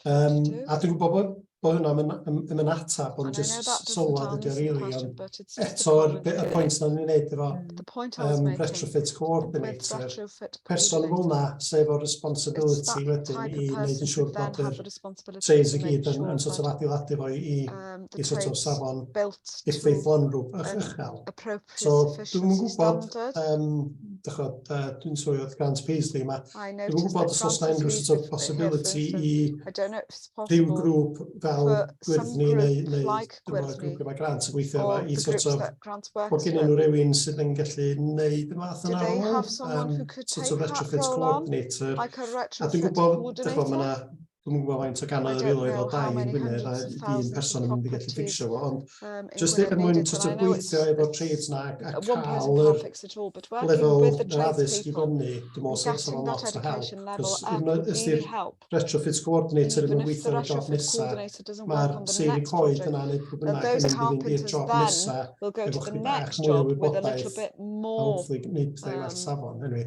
Um, a dwi'n gwybod bod, bod hwnna yn yn atab, ond just sylwad ydy o rili, ond eto'r y pwynt na'n ni'n wneud efo um, retrofit coordinator, person fel na, sef efo'r responsibility wedyn i wneud yn siŵr bod y trains i gyd yn, yn sort of adeiladu fo i, i, i sort of safon effeithlonrwb uchel. So, dwi'n gwybod, um, dychod, uh, dwi'n swyr oedd Grant Paisley yma, dwi'n gwybod os oes na unrhyw sort of possibility i rhyw grŵp fel gwyrddni neu, neu gwyrddni grŵp yma Grant yn gweithio yma i sort of, bod gen nhw rhywun sydd yn gallu neud y math yna o, um, sort of retrofit coordinator, a dwi'n gwybod, dychod, mae yna Dwi'm yn gwybod faint o gannoedd o filoedd o dai yn Gwynedd a un person yn mynd i gallu fficsio fo, ond jyst er mwyn sort of gweithio efo'r trades na a cael yr lefel yr addysg i fyny, dwi'n meddwl sy'n sort of lot o help, cos un o'r ystyr retrofit coordinator yn gweithio ar y job nesa, mae'r seiri coed yna neu pwy bynnag yn mynd i fynd i'r job nesa efo chdi bach mwy o wybodaeth, hopefully gwneud pethau i well safon, anyway.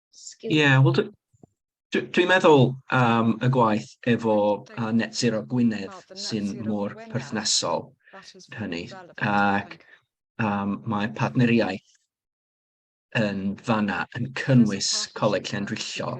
Sgil... Ie, wel dwi dwi dwi'n meddwl am y gwaith efo yy Net Zero Gwynedd sy'n mor perthnasol i hynny ac yym mae partneriaeth yn fan'na yn cynnwys Coleg Llanrwyllo.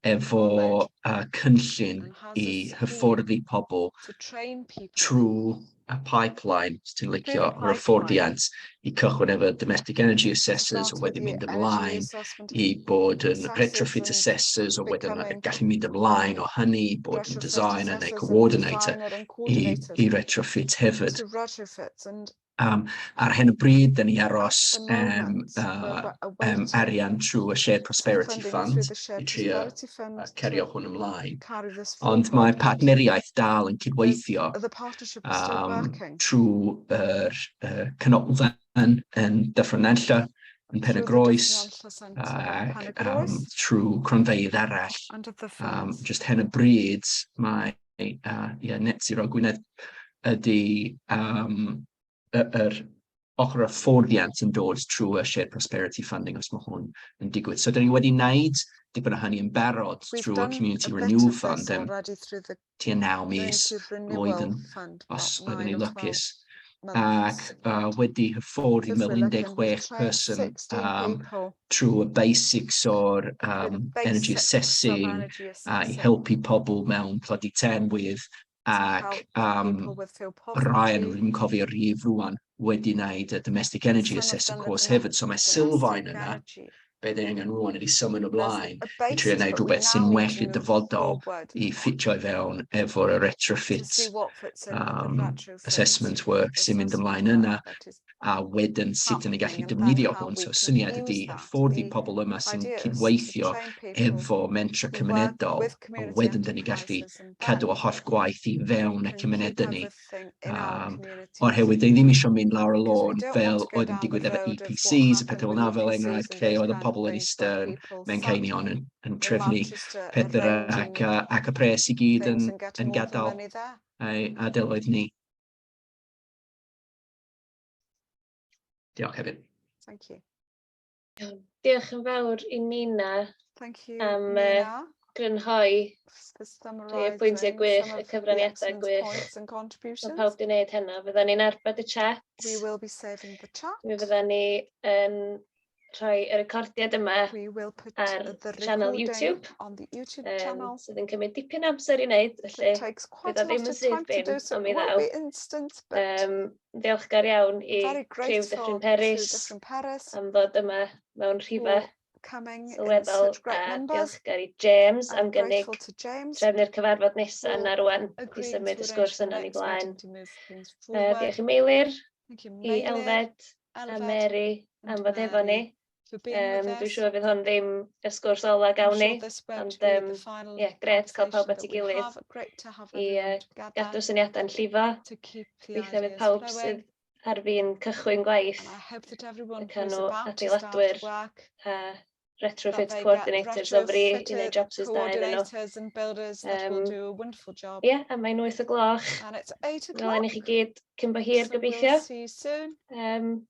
efo cynllun i hyfforddi pobl trwy y pipeline, os ti'n licio, yr hyfforddiant i cychwyn efo domestic energy assessors, wedyn mynd ymlaen i bod yn retrofit assessors, a wedyn gallu mynd ymlaen o hynny i bod yn designer neu coordinator i retrofit hefyd. Yym ar hyn o bryd, dan ni'n aros am yym arian trwy y Shared Prosperity Fund i drio cario hwn ymlaen, ond mae partneriaeth dal yn cydweithio yym trwy'r yy canolfan yn Dyffryn Nantlle, yn Pen-y-groes ac yym trwy cronfeydd arall, yym jyst ar hyn o bryd mae neu a ie net zero Gwynedd ydy yym y yr ochr y fforddiant yn dod trwy y shared prosperity funding os ma' hwn yn digwydd. So 'dan ni wedi wneud dipyn o hynny yn barod trwy y community renewal fund yym tua naw mis blwyddyn os oeddwn i'n lwcus. ac yy wedi hyfforddi mewn 16 person yym trwy y basics o'r yym energy assessing a i helpu pobl mewn tlodi termwydd ac yym rai o'n nhw ddim yn cofio rhif rŵan wedi wneud y domestic energy assessing course hefyd so mae sylfaen yna beth ei angen rwan ydy symud ymlaen i trio wneud rhywbeth sy'n well i'r dyfodol i ffitio i fewn efo'r retrofit um, assessment work sy'n mynd ymlaen yna a wedyn sut yn ei gallu defnyddio hwn. So syniad ydy ffordd i pobl yma sy'n cydweithio efo mentra cymunedol a wedyn dyn ni gallu cadw o holl gwaith i fewn y cymunedau ni. o'r hewyd, dyn ni ddim eisiau mynd lawr y lôn fel oedd yn digwydd efo EPCs a pethau fel yna, fel enghraifft, lle oedd y pobl yn eistedd mewn ceinion yn, yn trefnu pethau ac, ac y pres i gyd yn, yn gadael ei adeloedd ni. Diolch hefyd. Thank you. Iawn. Diolch yn fawr i Nina... Thank you Nina... am yy grynhoi rhai o'r pwyntiau gwych, y cyfraniadau gwych. Mae pawb wedi gwneud hynna. Fydden ni'n arbed y chat. We will be saving the chat. Mi fydden ni yn rhoi y recordiad yma ar sianel YouTube, on the YouTube um, channel. sydd yn cymryd dipyn amser i wneud, felly bydd o ddim yn syth bin, ond mi ddaw. Um, ddiolchgar iawn i criw Dyffryn Peris am fod yma mewn rhifau sylweddol a diolchgar i James am gynnig trefn i'r cyfarfod nesaf yna rwan i symud y sgwrs yna ni blaen. Uh, diolch i Meilir, i Elfed a Mary am fod efo ni. for being um, with us. Dwi'n siŵr fydd hwn ddim y sgwrs ola gawn ni, ond um, yeah, gret cael pawb at ei gilydd i uh, gadw syniadau'n llifo. Weithiau fydd pawb sydd ar fi'n cychwyn gwaith y canw adeiladwyr a retrofit coordinators o fri i wneud jobs ys da iddyn nhw. Um, yeah, a mae'n 8 o gloch. Fel i chi gyd cyn bo hir gobeithio. Um,